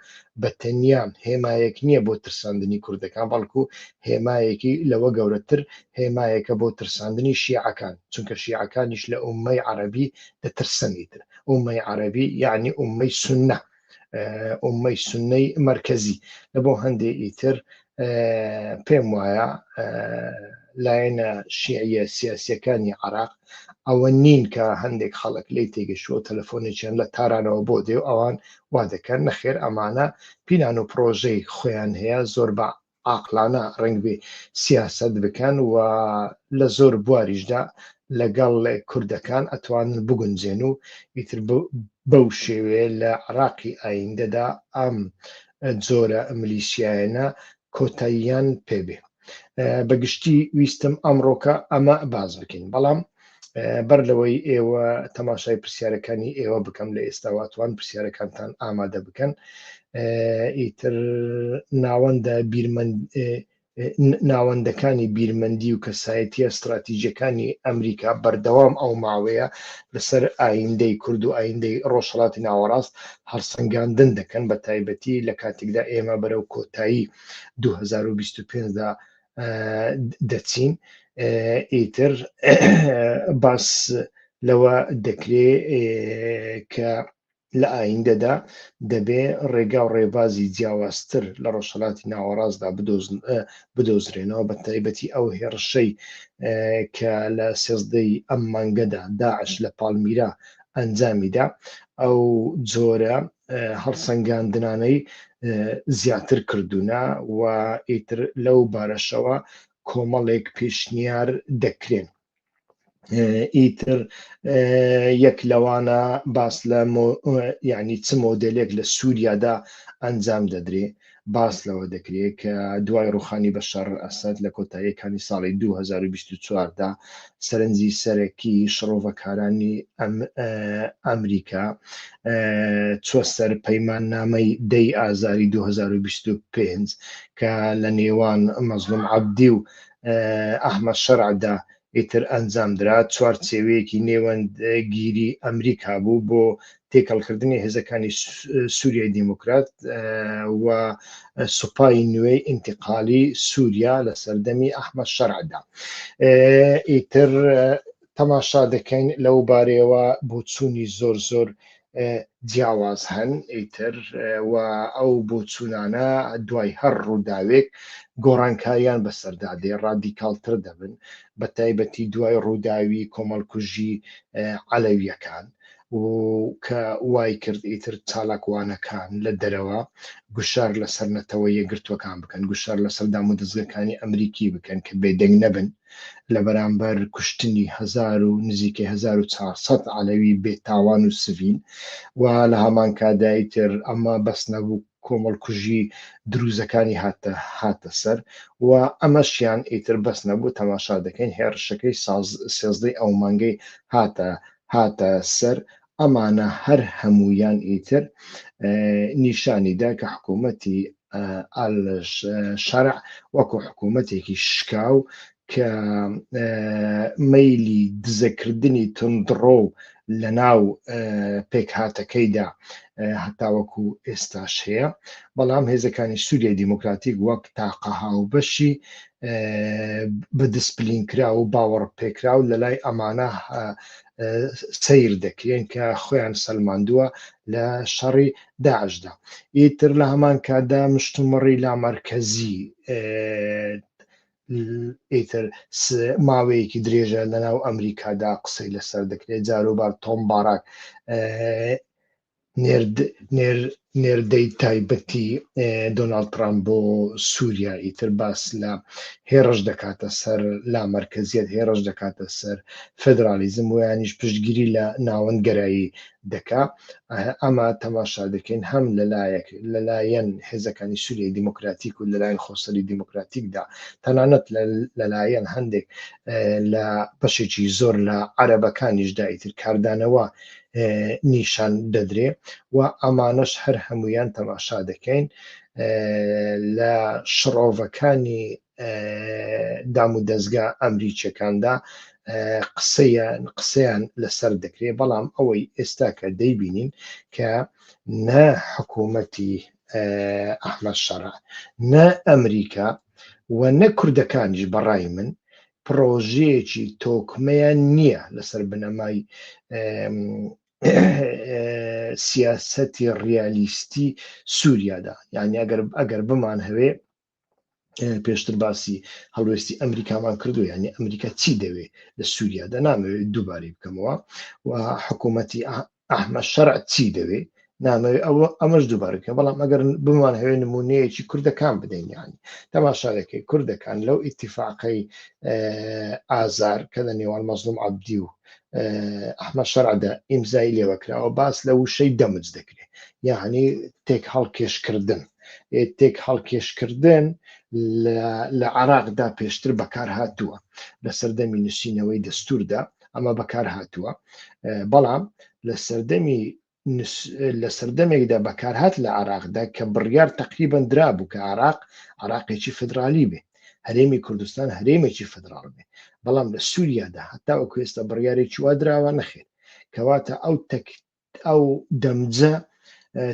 بە تەنیا هێمایەک نییە بۆ ترساندنی کوردەکان بەڵکو هێمایەکی لەوە گەورەتر هێمایەکە بۆ ترساندنی شیعەکان چونکە شیعەکانیش لە ئومەی عربی دەترسەنیتر ئومەی عەرەبی یعنی ئومەی سنە ئومەی سنەی مرکزی لە بۆ هەندێ ئیتر پێم وایە لایەنە شیعە سیاسەکانی عراق ئەوە نین کە هەندێک خەڵک لی تێگەشوە تەلەفۆنێکیان لە تارانەوە بۆ دێ ئەوان وا دەکەن نەخێر ئەمانە پیلان و پرۆژەی خۆیان هەیە زۆر بە عاقلانە ڕەنگبێ سیاسەت بکەن و لە زۆر بواریشدا لەگەڵ کوردەکان ئەتوانن بگونجێن و ئیتر بەو شێوێ لە عراقی ئایندەدا ئەم جۆرە ملیشیایەنە کۆتاییان پێبێ بەگشتی ویستم ئەمڕۆکە ئەمە باز بکەین بەڵام بەر لەوەی ئێوە تەماشای پرسیارەکانی ئێوە بکەم لە ئێستاواتوان پرسیارەکانتان ئامادە بکەن ئیتر ناوەندە بیرمەند ناوەندەکانی بیرمەندی و کەسایەتە استراتیژەکانی ئەمریکا بەردەوام ئەو ماوەیە لەسەر ئایندەی کورد و ئایندەی ڕۆژهڵاتی ناوەڕاست هەڵسەنگاندن دەکەن بە تایبەتی لە کاتێکدا ئێمە بەرەو کۆتایی 2025دا دەچین ئیتر باس لەوە دەکرێ کە لە ئایندەدا دەبێ ڕێگا و ڕێبازی جیاوازتر لە ڕۆژهڵاتی ناوەڕاستدا بدۆزرێنەوە بە تایبەتی ئەو هێڕشەی کە لە سێزدەی ئەم مانگەدا داعش لە پاڵمیرا ئەنجامیدا ئەو جۆرە هەڵسەنگاندنانەی زیاتر کردوونە و ئیتر لەو بارەشەوە کۆمەڵێک پێشنیار دەکرێن ئیتر یەک لەوانە باس لە ینی چ مۆدلێک لە سووریادا ئەنجام دەدرێ باس لەوە دەکرێت کە دوای ڕووخانی بەشار ئەسەد لە کۆتاییەکانی ساڵی دوو هەزار و بیست و چوار دا سەرنجی سەرەکی شڕۆڤەکارانی ئەمریکا چووە سەر پەیماننامەی دەی ئازاری دوو هەزار و بیست و پێنج کە لە نێوان مەزڵوم عەبدی و ئەحمەد شەرعدا ئیتر ئەنجامدرا، چوارچێوەیەکی نێوەندگیری ئەمریکا بوو بۆ تێکەڵکردنی هێزەکانی سوریای دیموکرات و سوپای نوێی ئینتقالی سووریا لە سەردەمی ئەحمە شەرعدا ئیتر تەماشا دەکەین لەو بارەیەوە بۆچوونی زۆر زۆر جیاواز هەن ئیتر و ئەو بۆچوونانە دوای هەر ڕووداوێک گۆڕانکاریان بەسەردا دێ ڕادیکالتر دەبن بە تایبەتی دوای ڕووداوی کۆمەڵکوژی عەلەویەکان و کە وای کرد ئیتر چالاکوانەکان لە دەرەوە گوشار لەسەر نەتەوە یەگرتوەکان بکەن گوشار لەسەر دام و دەستگەکانی ئەمریکی بکەن کە بێدەنگ نەبن و لە بەرامبەر کوشتنی هەزار و نزیکەی هەزار و چوار سەد عەلەوی بێ تاوان و سڤیل و لە هەمانکاتدا ئیتر ئەمە بەس نەبوو کۆمەڵکوژی درووزەکانی هاتە هاتە سەر و ئەمەشیان ئیتر بەس نەبوو تەماشا دەکەین هێڕشەکەی ساز سێزدەی ئەو مانگەی هاتە هاتە سەر ئەمانە هەر هەموویان ئیتر نیشانی دا کە حکوومەتی ئال شەرع وەکو حکوومەتێکی شکاو کە مەیلی دزەکردنی تندڕۆ و لە ناو پێکهاتەکەیدا هەتاوەکو ئێستاش هەیە بەڵام هێزەکانی سووریای دیموکراتیک وەک تاقە هاوبەشی بە دسپلین کرا و باوەڕ پێکرا و لەلای ئەمانە سیر دەکرێن کە خۆیان سەلماندووە لە شەڕی داعشدا ئیتر لە هەمان کادا مشتومڕی لامەرکەزی ئیتر ماوەیەکی درێژە لەناو ئەمریکادا قسەی لەسەر دەکرێت جاروبار تۆم باراک نێردەی تایبەتی دۆناڵد ترامپ بۆ سووریا ئیتر باس لە هێڕش دەکاتە سەر لا مەرکەزیت هێڕش دەکاتە سەر فدرالیزم ویانیش پشتگیری لە ناوەند گەرایی دەکا ئەمە تەماشا دەکەین هەم لەلایەک لەلایەن هێزەکانی سووریای دیموکراتیک و لەلایەن خۆسەری دیموکراتیکدا تەنانەت لەلایەن هەندێک لە بەشێکی زۆر لە عەرەبەکانیشدا ئیتر کاردانەوە نیشان دەدرێ و ئەمانەش هەر هەمویان تەماشا دەکەین لە شڕۆڤەکانی دام و دەستگا ئەمریکیەکاندا قسەیان قسەیان لەسەر دەکرێ بەڵام ئەوەی ئێستا کە دەیبینین کە نە حکوومەتی ئەحمە شەڕ نە ئەمریکا و نە کوردەکانیش بەڕای من پڕۆژەیەکی تۆکمەیان نییە لەسەر بنەمای سیاسەتی ڕیالیستی سووریادا یعنی ئەگەر ئەگەر بمان هەوێ پێشتر باسی هەڵوێستی ئەمریکامان کردو ینی ئەمریکا چی دەوێت لە سووریادا نامەوێت دووبارەی بکەمەوە و حکوومەتی ئەحمە شەرع چی دەوێ نامەوێ ئەوە ئەمەش دووبارەکە بەڵام ئەگەر بمان هەوێ نمونەیەکی کوردەکان بدەینیان تەماشاەکەی کوردەکان لەو ئیتیفاقەی ئازار کە لە نێوان مەزلوم عبدی و ئەحمە شەرعدا ئیمزای لێوەکراوە باس لە وشەی دەمج دەکرێت یاهانی تێک هەڵکێشکردن تێک هەڵکێشکردن لە عراقدا پێشتر بەکار هاتووە لە سەردەمی نووسینەوەی دەستوردا ئەمە بەکار هاتووە بەڵام لە سەردەمی لە سەردەمێکدا بەکارهات لە عراقدا کە بڕیار تقریبان درا بوو کە عراق عراقێکی فدرالی بێ هەرێمی کوردستان هەرێمێکی فدرال بێ بەڵام لە سووریادا هەتا و کوێستە بڕیارێکی وا دراوە نەخێت کەواتە ئەو ئەو دەمجە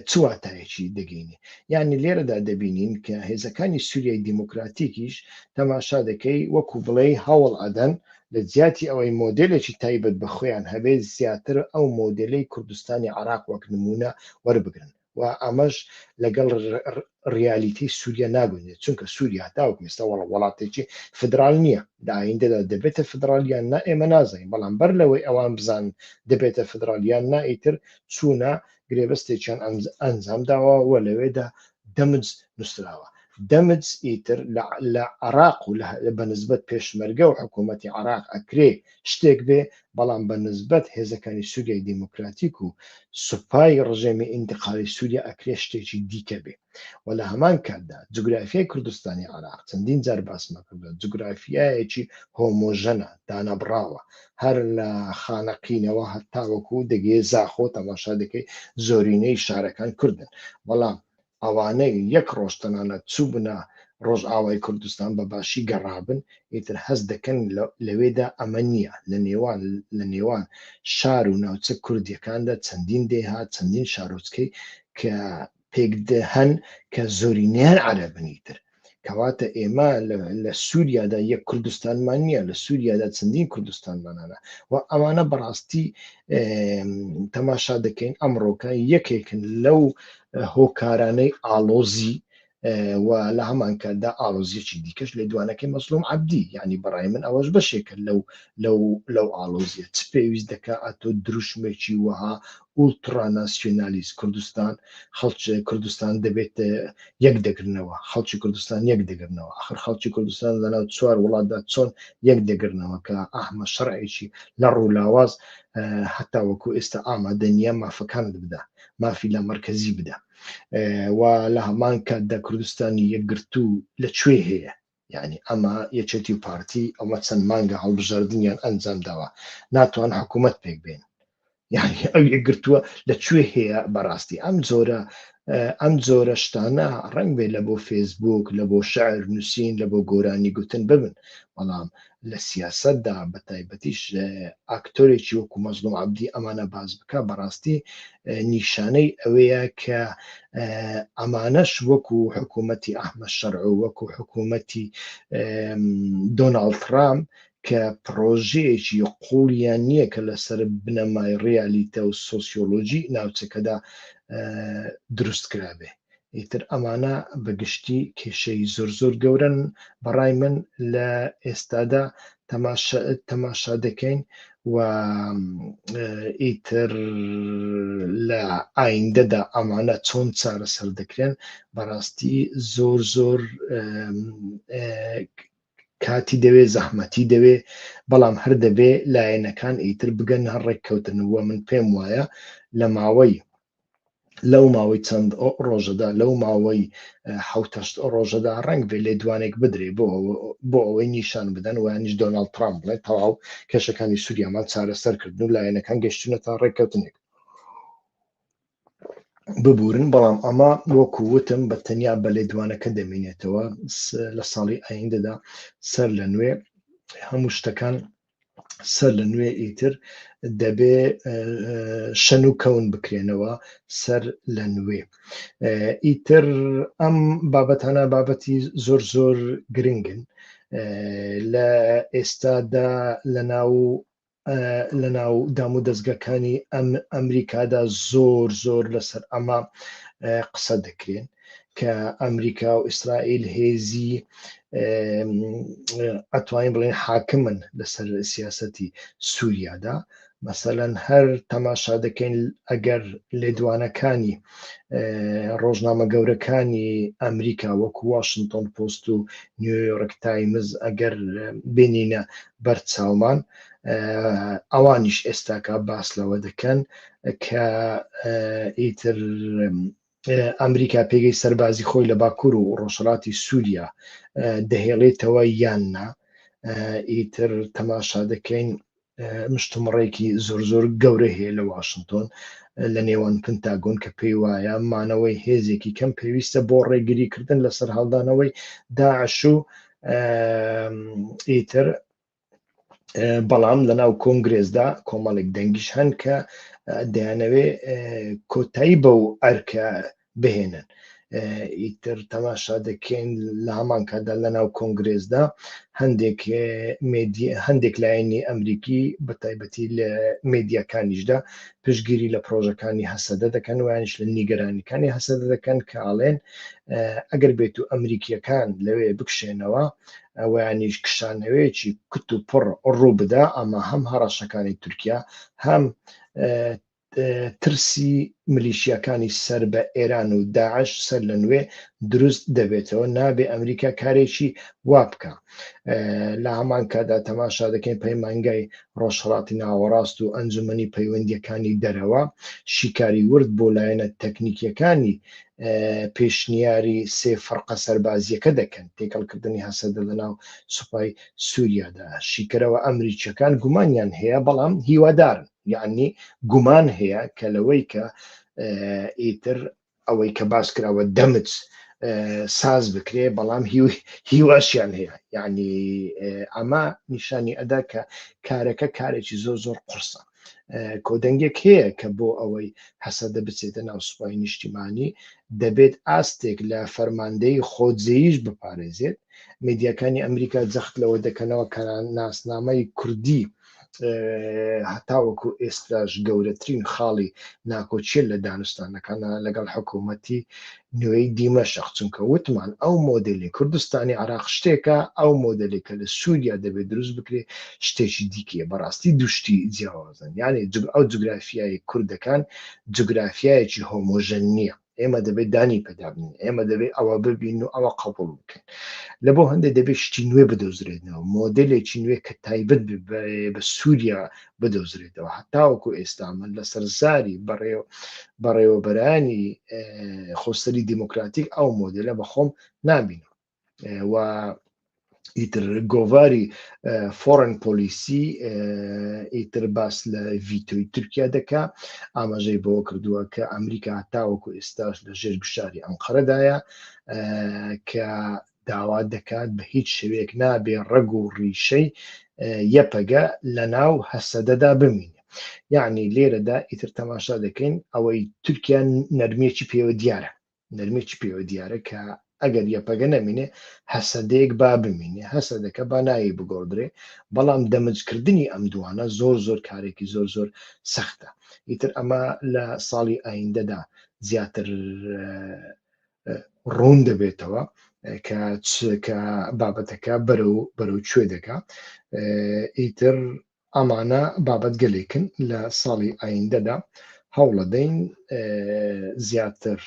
چواتایەکی دەگەینێ یعنی لێرەدا دەبینین کە هێزەکانی سووریای دیموکراتیکیش تەماشا دەکەی وەکو بڵێ هەوڵ ئەدەن لە جیاتی ئەوەی مۆدلێکی تایبەت بە خۆیان هەبێت زیاتر ئەو مۆدلەی کوردستانی عراق وەک نمونە وەربگرن و ئەمەش لەگەڵ ڕیالیتەی سووریا ناگونجێت چونکە سووریا تاوەکو ئێستا وەڵ وڵاتێکی فدرال نییە لە ئایندەدا دەبێتە فدرالیان نا ئێمە نازانین بەڵام بەر لەوەی ئەوان بزان دەبێتە فدرالیان نا ئیتر چوونە گرێبەستێکیان ئەنجام داوە و لەوێدا دەمج نووسراوە دەمج ئیتر لە عراق و بەنسبت پێشمەرگە و حکوومەتتی عراق ئەکرێ شتێک بێ بەڵام بە نسبەت هێزەکانی سووریای دیموکراتیک و سوپای ڕژێمی ئینتقالی سووریا ئەکرێ شتێکی دیکە بێ و لە هەمان کاتدا جوگرافیای کوردستانی عێراق چەندین جار باسمە کردووە جوگرافیایەکی هۆمۆژەنە دانەبڕاوە هەر لە خانەقینەوە هەتاوەکو دەگەێ زاخۆ تەماشا دەکەی زۆرینەی شارەکان کوردن بەڵام ئەوانەی یەک ڕۆژ تەنانەت چووبنە ڕۆژئاوای کوردستان بە باشی گەڕابن، ئیتر هەست دەکەن لەوێدا ئەمە نییە، لە نێوان لە نێوان شار و ناوچە کوردییەکاندا چەندین دێهات، چەندین شارۆچکەی کە پێکدهن کە زۆرینەیان عەرەبن ئیتر. کەواتە ئێمە لە سووریادا یەک کوردستانمان نییە لە سووریادا چەندین کوردستانمانانە و ئەمانە بەڕاستی تەماشا دەکەین ئەمڕۆکە یەکێکن لەو هۆکارانەی ئالۆزی و لە هەمانکاردا ئالۆزیەکی دیکەش لە دوانەکەی مەسلوم عبدی یعنی بەڕای من ئەوەش بەشێکە لەو لەو لەو ئالۆزیە چ پێویست دەکە ئەتۆ دروشمێکی وەها ئولتڕا ناسیونالیست کوردستان خەڵک کوردستان دەبێت یەک دەگرنەوە خەڵکی کوردستان یەک دەگرنەوە ئەخر خەڵکی کوردستان لەناو چوار وڵاتدا چۆن یەک دەگرنەوە کە ئەحمە شەرعێکی لە ڕوولاواز هەتا وەکو ئێستا ئامادە نییە مافەکانت بدا مافی لە مرکزی بدا و لە هەمان کاتدا کوردستانی یەکگرتوو لە کوێ هەیە یانی ئەمە یەکێتی و پارتی ئەوە چەند مانگە هەڵبژاردنیان ئەنجام داوە ناتوان حکوومەت پێک بێن یعنی ئەو یەکگرتووە لە کوێ هەیە بەڕاستی ئەم جۆرە ئەم جۆرە شتانە ڕنگ بێ لە بۆ فێسبوک لە بۆ شعر نووسین لە بۆ گۆرانی گوتن ببن بەڵام لە سیاسەتدا بە تایبەتیش ئاکتۆرێکی وەکو مەزلوم عەبدی ئەمانە باس بکە بەڕاستی نیشانەی ئەوەیە کە ئەمانەش وەکو حکوومەتی ئەحمە شەرع و وەکو حکوومەتی دۆناڵد ترام کە پرۆژەیەکی قوڵیان نییە کە لەسەر بنەمای ڕیالیتە و سۆسیۆلۆژی ناوچەکەدا دروست کرابێ ئیتر ئەمانە بە گشتی کێشەی زۆر زۆر گەورەن بەڕای من لە ئێستادا تەماشا دەکەین و ئیتر لە ئایندەدا ئەمانە چۆن چارەسەر دەکرێن بەڕاستی زۆر زۆر کاتی دەوێ زەحمەتی دەوێ بەڵام هەر دەبێ لایەنەکان ئیتر بگەن هەر ڕێککەوتنەوە من پێم وایە لە ماوەی لەو ماوەی چەند ڕۆژەدا لەو ماوەی حوتەشت ڕۆژەدا ڕنگ بێ لێدوانێک بدرێ بۆ بۆ ئەوەی نیشان بدەن وانیش دۆناڵد ترامپ بڵێ تەواو کێشەکانی سووریامان چارەسەر کردن و لایەنەکان گەشتونە تا ڕێککەوتنێک ببورن بەڵام ئەمە وەکو وتم بە تەنیا بە لێدوانەکە دەمینێتەوە لە ساڵی ئایندەدا سەر لە نوێ هەموو شتەکان سەر لە نوێ ئیتر دەبێ شەن و کەون بکرێنەوە سەر لە نوێ ئیتر ئەم بابەتانە بابەتی زۆر زۆر گرنگن لە ئێستادا لە ناو لە ناو دام و دەستگەکانی ئەم ئەمریکادا زۆر زۆر لەسەر ئەمە قسە دەکرێن کە ئەمریکا و ئیسرائیل هێزی ئەتوانین بڵێن حاکمن لەسەر سیاستی سووریادا مەسەەن هەر تەماشا دەکەین ئەگەر لێدوانەکانی ڕۆژنامە گەورەکانی ئەمریکا وەکو واشنگتۆن پۆست و نیویۆرک تایمز ئەگەر بینینە بەرچاومان ئەوانیش ئێستاکە باس لەوە دەکەن کە ئیتر ئەمریکا پێگەی سەربازی خۆی لە باکوور و ڕۆژهڵاتی سووریا دەهێڵێتەوە یان نا ئیتر تەماشا دەکەین مشتمڕێکی زۆر زۆر گەورە هەیە لە واشنگتۆن لە نێوان پنتاگۆن کە پێی وایە مانەوەی هێزێکی کەم پێویستە بۆ ڕێگریکردن لەسەر هەڵدانەوەی داعش و ئیتر بەڵام لە ناو کۆنگرێزدا کۆمەڵێک دەنگیش هەن کە دەیانەوێ کۆتایی بەو ئەرکە بهێنن ئیتر تەماشا دەکەین لە هەمان کادا لە ناو کۆنگرێزدا هەندێک هەندێک لایەنی ئەمریکی بە تایبەتی لە مدیەکانیشدا پشگیری لە پرۆژەکانی هەسەدە دەکەن ویانش لە نیگەرانەکانی هەسەدە دەکەن کە ئاڵێن ئەگەر بێت و ئەمریکیەکان لەوێ بکشێنەوە ئەوانیش کشانەوەیەکی کت و پڕ ڕوو بدا ئەمە هەم هەڕەشەکانی تورکیا هەم ترسی ملیشیەکانی سەر بە ئێران و داعش سەر لە نوێ دروست دەبێتەوە نابێ ئەمریکا کارێکی وا بکە لە هەمان کادا تەماشا دەکەین پەیمانگای ڕۆژهڵاتی ناوەڕاست و ئەنجومنی پەیوەندیەکانی دەرەوە شیکاری ورد بۆ لایەنە تەکنیکیەکانی پێشنیاری سێ فڕقە سەربازیەکە دەکەن تێکەڵکردنی هەسەدە لە ناو سوپای سووریادا شیکەرەوە ئەمریکیەکان گومانیان هەیە بەڵام هیوادارن یعنی گومان هەیە کە لەوەی کە ئیتر ئەوەی کە باس کراوە دەمت ساز بکرێ بەڵام هیواشیان هەیە یعنی ئەمە نیشانی ئەدا کە کارەکە کارێکی زۆر زۆر قرسە کۆدەنگێک هەیە کە بۆ ئەوەی هەسەدە بچێتە ناو سوپای نیشتیمانی دەبێت ئاستێک لە فەرماندەی خۆجێیش بپارێزێت میدیاکانی ئەمریکا جەخت لەوە دەکەنەوە کە ناسنامەی کوردی هەتاوەکو ئێستاش گەورەترین خاڵی ناکۆچیە لە دانوستانەکانە لەگەڵ حکوومەتی نوێی دیمەشق، چونکە وتمان ئەو مۆدێلی کوردستانی عێراق شتێکە، ئەو مۆدێلی کە لە سووریا دەبێ دروست بکرێ شتێکی دیکەیە، بەڕاستی دوو شتی جیاوازن، یانێ جوگ ئەو جوگرافیایەی کوردەکان جوگرافیایەکی هۆمۆژەن نییە، ئێمە دەبێ دانی پێدا بنێین، ئێمە دەبێ ئەوە ببینن و ئەوە قەبووڵ بکەین، لەبۆ هەندێ دەبێ شتی نوێ بدۆزرێنەوە، مۆدێلێکی نوێ کە تایبەت بێ بە سووریا بدۆزرێتەوە هەتاوەکو ئێستا من لەسەر زاری بەڕێو بەڕێوەبەرانی خۆسەری دیموکراتیک ئەو مۆدلە بە خۆم نامینەوە و ئیتر گۆڤاری فۆرن پۆلیسی ئیتر باس لە ڤیتۆی تورکیا دەکا ئاماژەی بەوە کردووە کە ئەمریکا تاوەکو ئێستاش لە ژێر گشاری ئەم قەرەدایە کە داوا دەکات بە هیچ شێوەیەک نابێ ڕەگ و ڕیشەی یەپەگە لە ناو هەسەدەدا بمینێ. یەعنی لێرەدا ئیتر تەماشا دەکەین ئەوەی تورکیا نەرمیەکی پێوە دیارە، نەرمیەکی پێوە دیارە کە ئەگەر یەپەگە نەمینێ هەسەدەیەک با بمینێ، هەسەدەکە با ناوی بگۆڕدرێ، بەڵام دەمجکردنی ئەم دووانە زۆر زۆر کارێکی زۆر زۆر سەختە. ئیتر ئەمە لە ساڵی ئایندەدا زیاتر ڕوون دەبێتەوە کە کە بابەتەکە بەرەو بەرەو کوێ دەکا ئیتر ئەمانە بابەت گەلێکن لە ساڵی ئایندەدا هەوڵەدەین زیاتر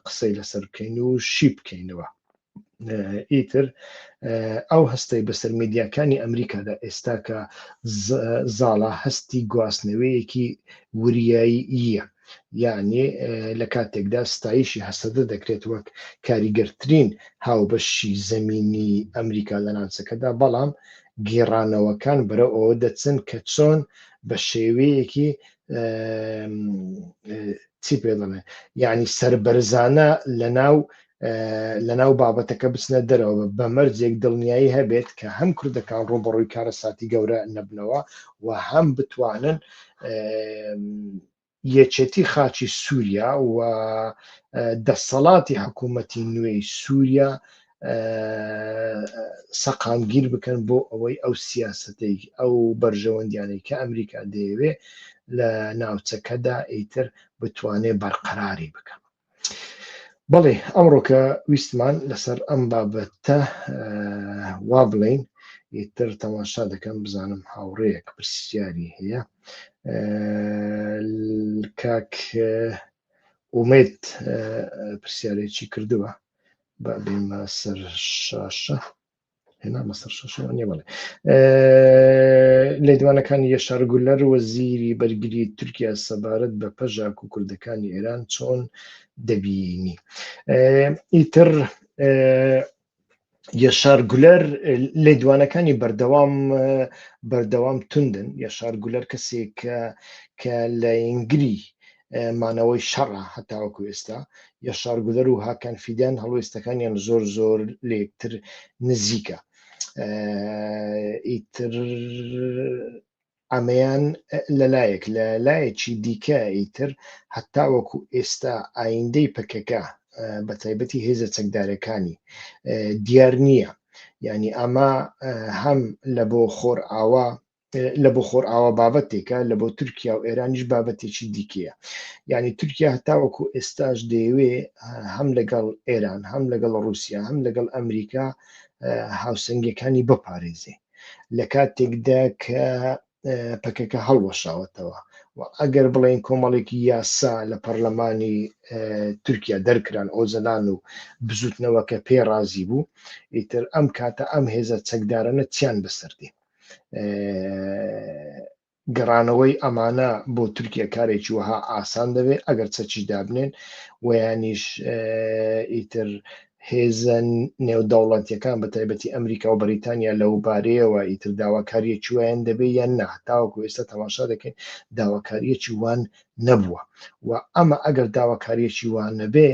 قسەی لەسەر بکەین و شی بکەینەوە ئیتر ئەو هەستەی بەسەر میدیاکانی ئەمریکادا ئێستا کە زاڵە هەستی گواستنەوەیەکی وریایی یە یەعنی لە کاتێکدا ستایشی هەسەدە دەکرێت وەک کاریگەرترین هاوبەشی زەمینی ئەمریکا لە ناوچەکەدا، بەڵام گێڕانەوەکان بەرەو ئەوە دەچن کە چۆن بە شێوەیەکی چی پێ دەڵێن یعنی سربەرزانە لە ناو لەناو بابەتەکە بچنە دەرەوە بە مەرجێک دڵنیایی هەبێت کە هەم کوردەکان ڕوبەڕووی کارە ساتی گەورە نەبنەوە و هەم بتوانن یەکێتی خاچی سووریا و دەسەڵاتی حکوومەتی نوێی سووریا سەقامگیر بکەن بۆ ئەوەی ئەو سیاستەی ئەو بەرژەوەندیانەی کە ئەمریکا دەیەوێ لە ناوچەکەدا ئیتر بتوانێ بەرقەراری بکەن بەڵێ ئەمڕۆکە ویستمان لەسەر ئەم بابەتە وا بڵین ئیتر تەماشا دەکەم بزانم هاوڕەیەک پرسیاری هەیە کاک ئومێت پرسیارێکی کردووە با بێمە سەر شاشە هێنامە سەر شەشەوە نیە بەڵێ لێدوانەکانی یەشار گولەر وەزیری بەرگری تورکیا سەبارەت بە پەژاک و کوردەکانی ئێران چۆن دەبینی ئیتر یەشار گولەر لێدوانەکانی بەردەوام بەردەوام توندن یەشار گولەر کەسێک کە لە ئینگری مانەوەی شەڕە هەتاوەکو ئێستا یە شارگوزەر و هاکان فیدان هەڵوێستەکانیان زۆر زۆر لێکتر نزیکە ئیتر ئەمەیان لەلایەک لە لایەکی دیکە ئیتر هەتا وەکو ئێستا ئایندەی پەکەکە بە تایبەتی هێزە چەکدارەکانی دیار نییە ینی ئەمە هەم لە بۆ خۆر ئاوا لە بۆ خۆرئاوا بابەتێکە لە بۆ تورکیا و ئێرانیش بابەتێکی دیکەیە یعنی تورکیا هەتاوەکو ئێستاش دەیەوێ هەم لەگەڵ ئێران هەم لەگەڵ رووسیا هەم لەگەڵ ئەمریکا هاوسنگەکانی بپارێزێ لە کاتێکدا کە پەکەکە هەڵوەشاوەتەوە و ئەگەر بڵێن کۆمەڵێکی یاسا لە پەرلەمانی تورکیا دەرکران ئۆزەلان و بزوتنەوەکە پێ ڕازی بوو ئیتر ئەم کاتە ئەم هێزە چەکدارەنە چیان بەسەردێن گەڕانەوەی ئەمانە بۆ تورکیا کارێکی وەها ئاسان دەبێت ئەگەر چەکی دابنێن ویانیش ئیتر هێزن نێودەوڵەتیەکان بە تایبەتی ئەمریکا و بەریتانیا لەو بارەیەوە ئیتر داواکاریەکی وایان دەبێت یان نا تاوەکو ئێستا تەماشا دەکەین داواکاریەکی وان نەبووە و ئەمە ئەگەر داواکاریەکی وان نەبێ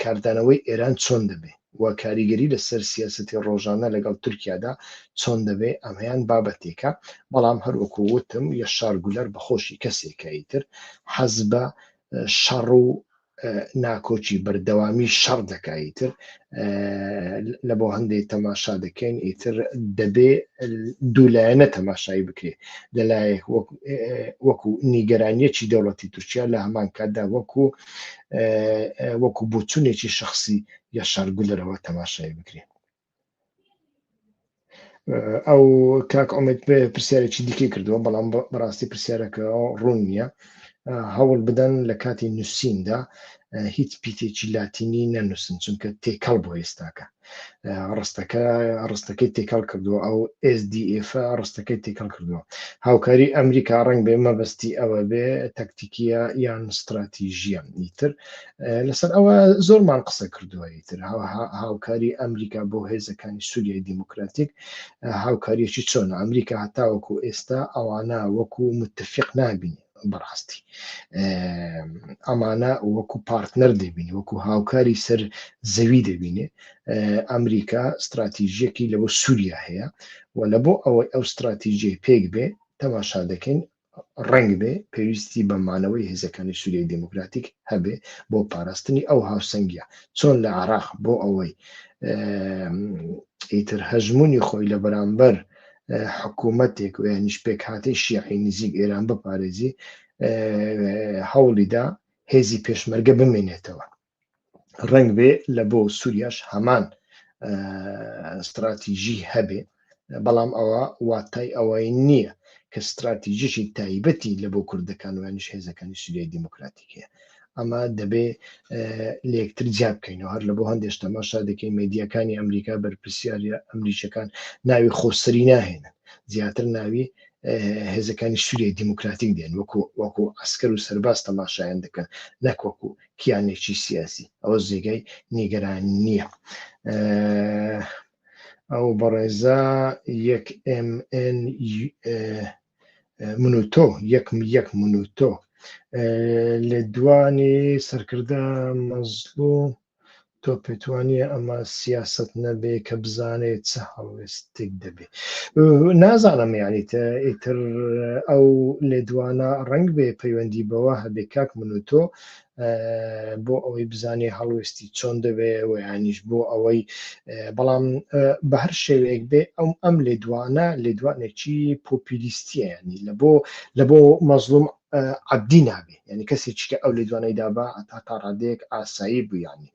کاردانەوەی ئێران چۆن دەبێ و کاریگەری لە سەر سیاسەتی ڕۆژانە لەگەڵ تورکیادا چۆن دەبێ ئەمەیان بابەتێکە بەڵام هەروەکو وتم یەشار گولەر بە خۆشی کەسێکایی تر حەز بە شەڕ و ناکۆکی بەردەوامی شەڕ دەکایی تر لە بۆ هەندێک تەماشا دەکەین ئیتر دەبێ دوولایەنە تەماشایی بکرێت لەلایەک وەکو نیگەرانیەکی دەوڵەتی تورکیا لە هەمان کاتدا وەکو وەکو بۆچونێکی شخصی یا شارگولەرەوە تەماشای بکرێن ئەو کاک ئۆمێت پرسیارێکی دیکەی کردووە بەڵام بەڕاستی پرسیارەکە ڕوون نییە هەوڵ بدەن لە کاتی نووسیندا هیچ پیتێکی لاتینی نەنووسن چونکە تێکەڵ بۆ ئێستاکە ڕستەکە ڕستەکەی تێکەڵ کردووە ئەو SDF ڕستەکەی تێکەڵ کردووە هاوکاری ئەمریکا ڕنگ بێ مەبەستی ئەوە بێ تەکتیکیە یان استراتیژیە نیتر لەسەر ئەوە زۆرمان قسە کردووە یتر هاوکاری ئەمریکا بۆ هێزەکانی سووریای دیموکراتیک هاوکاریەکی چۆن ئەمریکا هەتاوەکو ئێستا ئەوانە وەکو متفق نابینێ بەڕاستی ئەمانە وەکو پارتنەر دەبینی وەکو هاوکاری سەر زەوی دەبینێ ئەمریکا استراتیژیەکی لەوە سووریا هەیە و لە بۆ ئەوەی ئەو استراتیژی پێک بێ تەماشا دەکەین ڕنگ بێ پێویستی بە مانەوەی هێزەکانی سووریای دموکراتیک هەبێ بۆ پاراستنی ئەو هاوسەنگە چۆن لە عراق بۆ ئەوەی ئیتر هەژمونی خۆی لە بەرامبەر حکوومەتێک و یانیش پێکهاتەی شیعی نزیک ئێران بپارێزی هەوڵیدا هێزی پێشمەرگە بمێنێتەوە ڕنگ بێ لە بۆ سووریاش هەمان استراتیژی هەبێ بەڵام ئەوە واتای ئەوەی نییە کە استراتیژیی تایبەتی لە بۆ کوردەکان وانیش هێزەکانی سووریای دیموکراتیکەیە ئەمە دەبێ لەکتر جیا بکەینەوە هەر لە بۆ هەندێک تەماشا دەکەین مدیەکانی ئەمریکا بەرپسیاری ئەمریکەکان ناوی خۆسەری ناهێنن زیاتر ناوی هێزەکانی سووریە دیموکراتیک دێن وەکو وەکو ئەسکەر و سەرباز تەماشایان دەکەن نەکوەکو کیانێکی سیاسی ئەوە زێگای نیگەران نییە. ئەو بەڕێزە یەک MN من و تۆ یەک یەک من و تۆ لە دوانی سەرکردە مەزلوم تۆ پێتوانیە ئەمە سیاست نەبێ کە بزانێت چ هەڵوێستێک دەبێ نازانم یانی ئیتر ئەو لێدوانە ڕنگ بێ پەیوەندی بەوە هەبێ کاک من و تۆ بۆ ئەوەی بزانێ هەڵوێستی چۆن دەبێ و یانیش بۆ ئەوەی بەڵام بە هەر شێوەیەک بێ ئەم ئەم لێدوانە لێدوانێکی پۆپیلیستیە ینی لە بۆ لە بۆ مەزلوم عبدی نابێ ینی کەسێکی کە ئەو لێدوانەی دابا تا تا ڕادێک ئاسایی بوویانی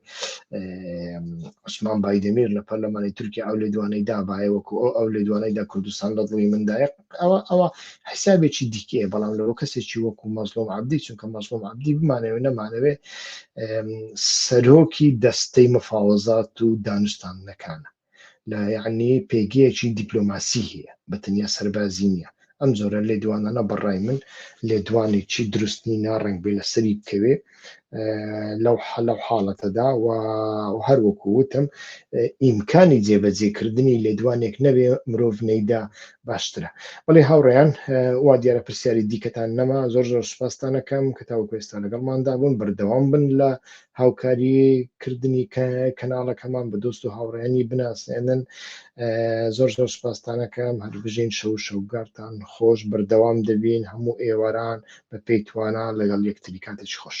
عوسمان بایدەمیر لە پەرلەمانی تورکیا ئەو لێدوانەی دابایە وەکو ئەو لێدوانەی دا کوردستان لە دڵی مندایە ئەوە ئەوە حسابێکی دیکەیە بەڵام لەەوە کەسێکی وەکو مەزلۆم عبدی چونکە مەزلۆم عبدی بمانەوە نەمانەوێ سەرۆکی دەستەی مفاوەزات و دانوستان نەکانە لە یعنی پێگەیەکی دیپلۆماسی هەیە بە تەنیا سەربازی نییە ئەم جۆرە لێدوانانە بەڕای من لێدوانێکی دروستنی ناڕنگ بێ لەسەری بکەوێ لەو لەو حاڵەتەدا و هەر وەکو وتم ئیمکانی جێبەجێکردنی لێدوانێک نەبێ مرۆڤ نەیدا باشترە بەڵێ هاوڕێیان وا دیارە پرسیاری دیکەتان نەما زۆر زۆر سپاستانەکەم کە تاوکو ئێستا لەگەڵماندا بوون بەردەوام بن لە هاوکاری کردنی کەناڵەکەمان بە دۆست و هاوڕێنی بناسێنن زۆر زۆر سپاستانەکەم هەربژین شەو شەوگارتان خۆش بەردەوام دەبین هەموو ئێواران بە پێی توانا لەگەڵ یەکتری کاتێکی خۆش.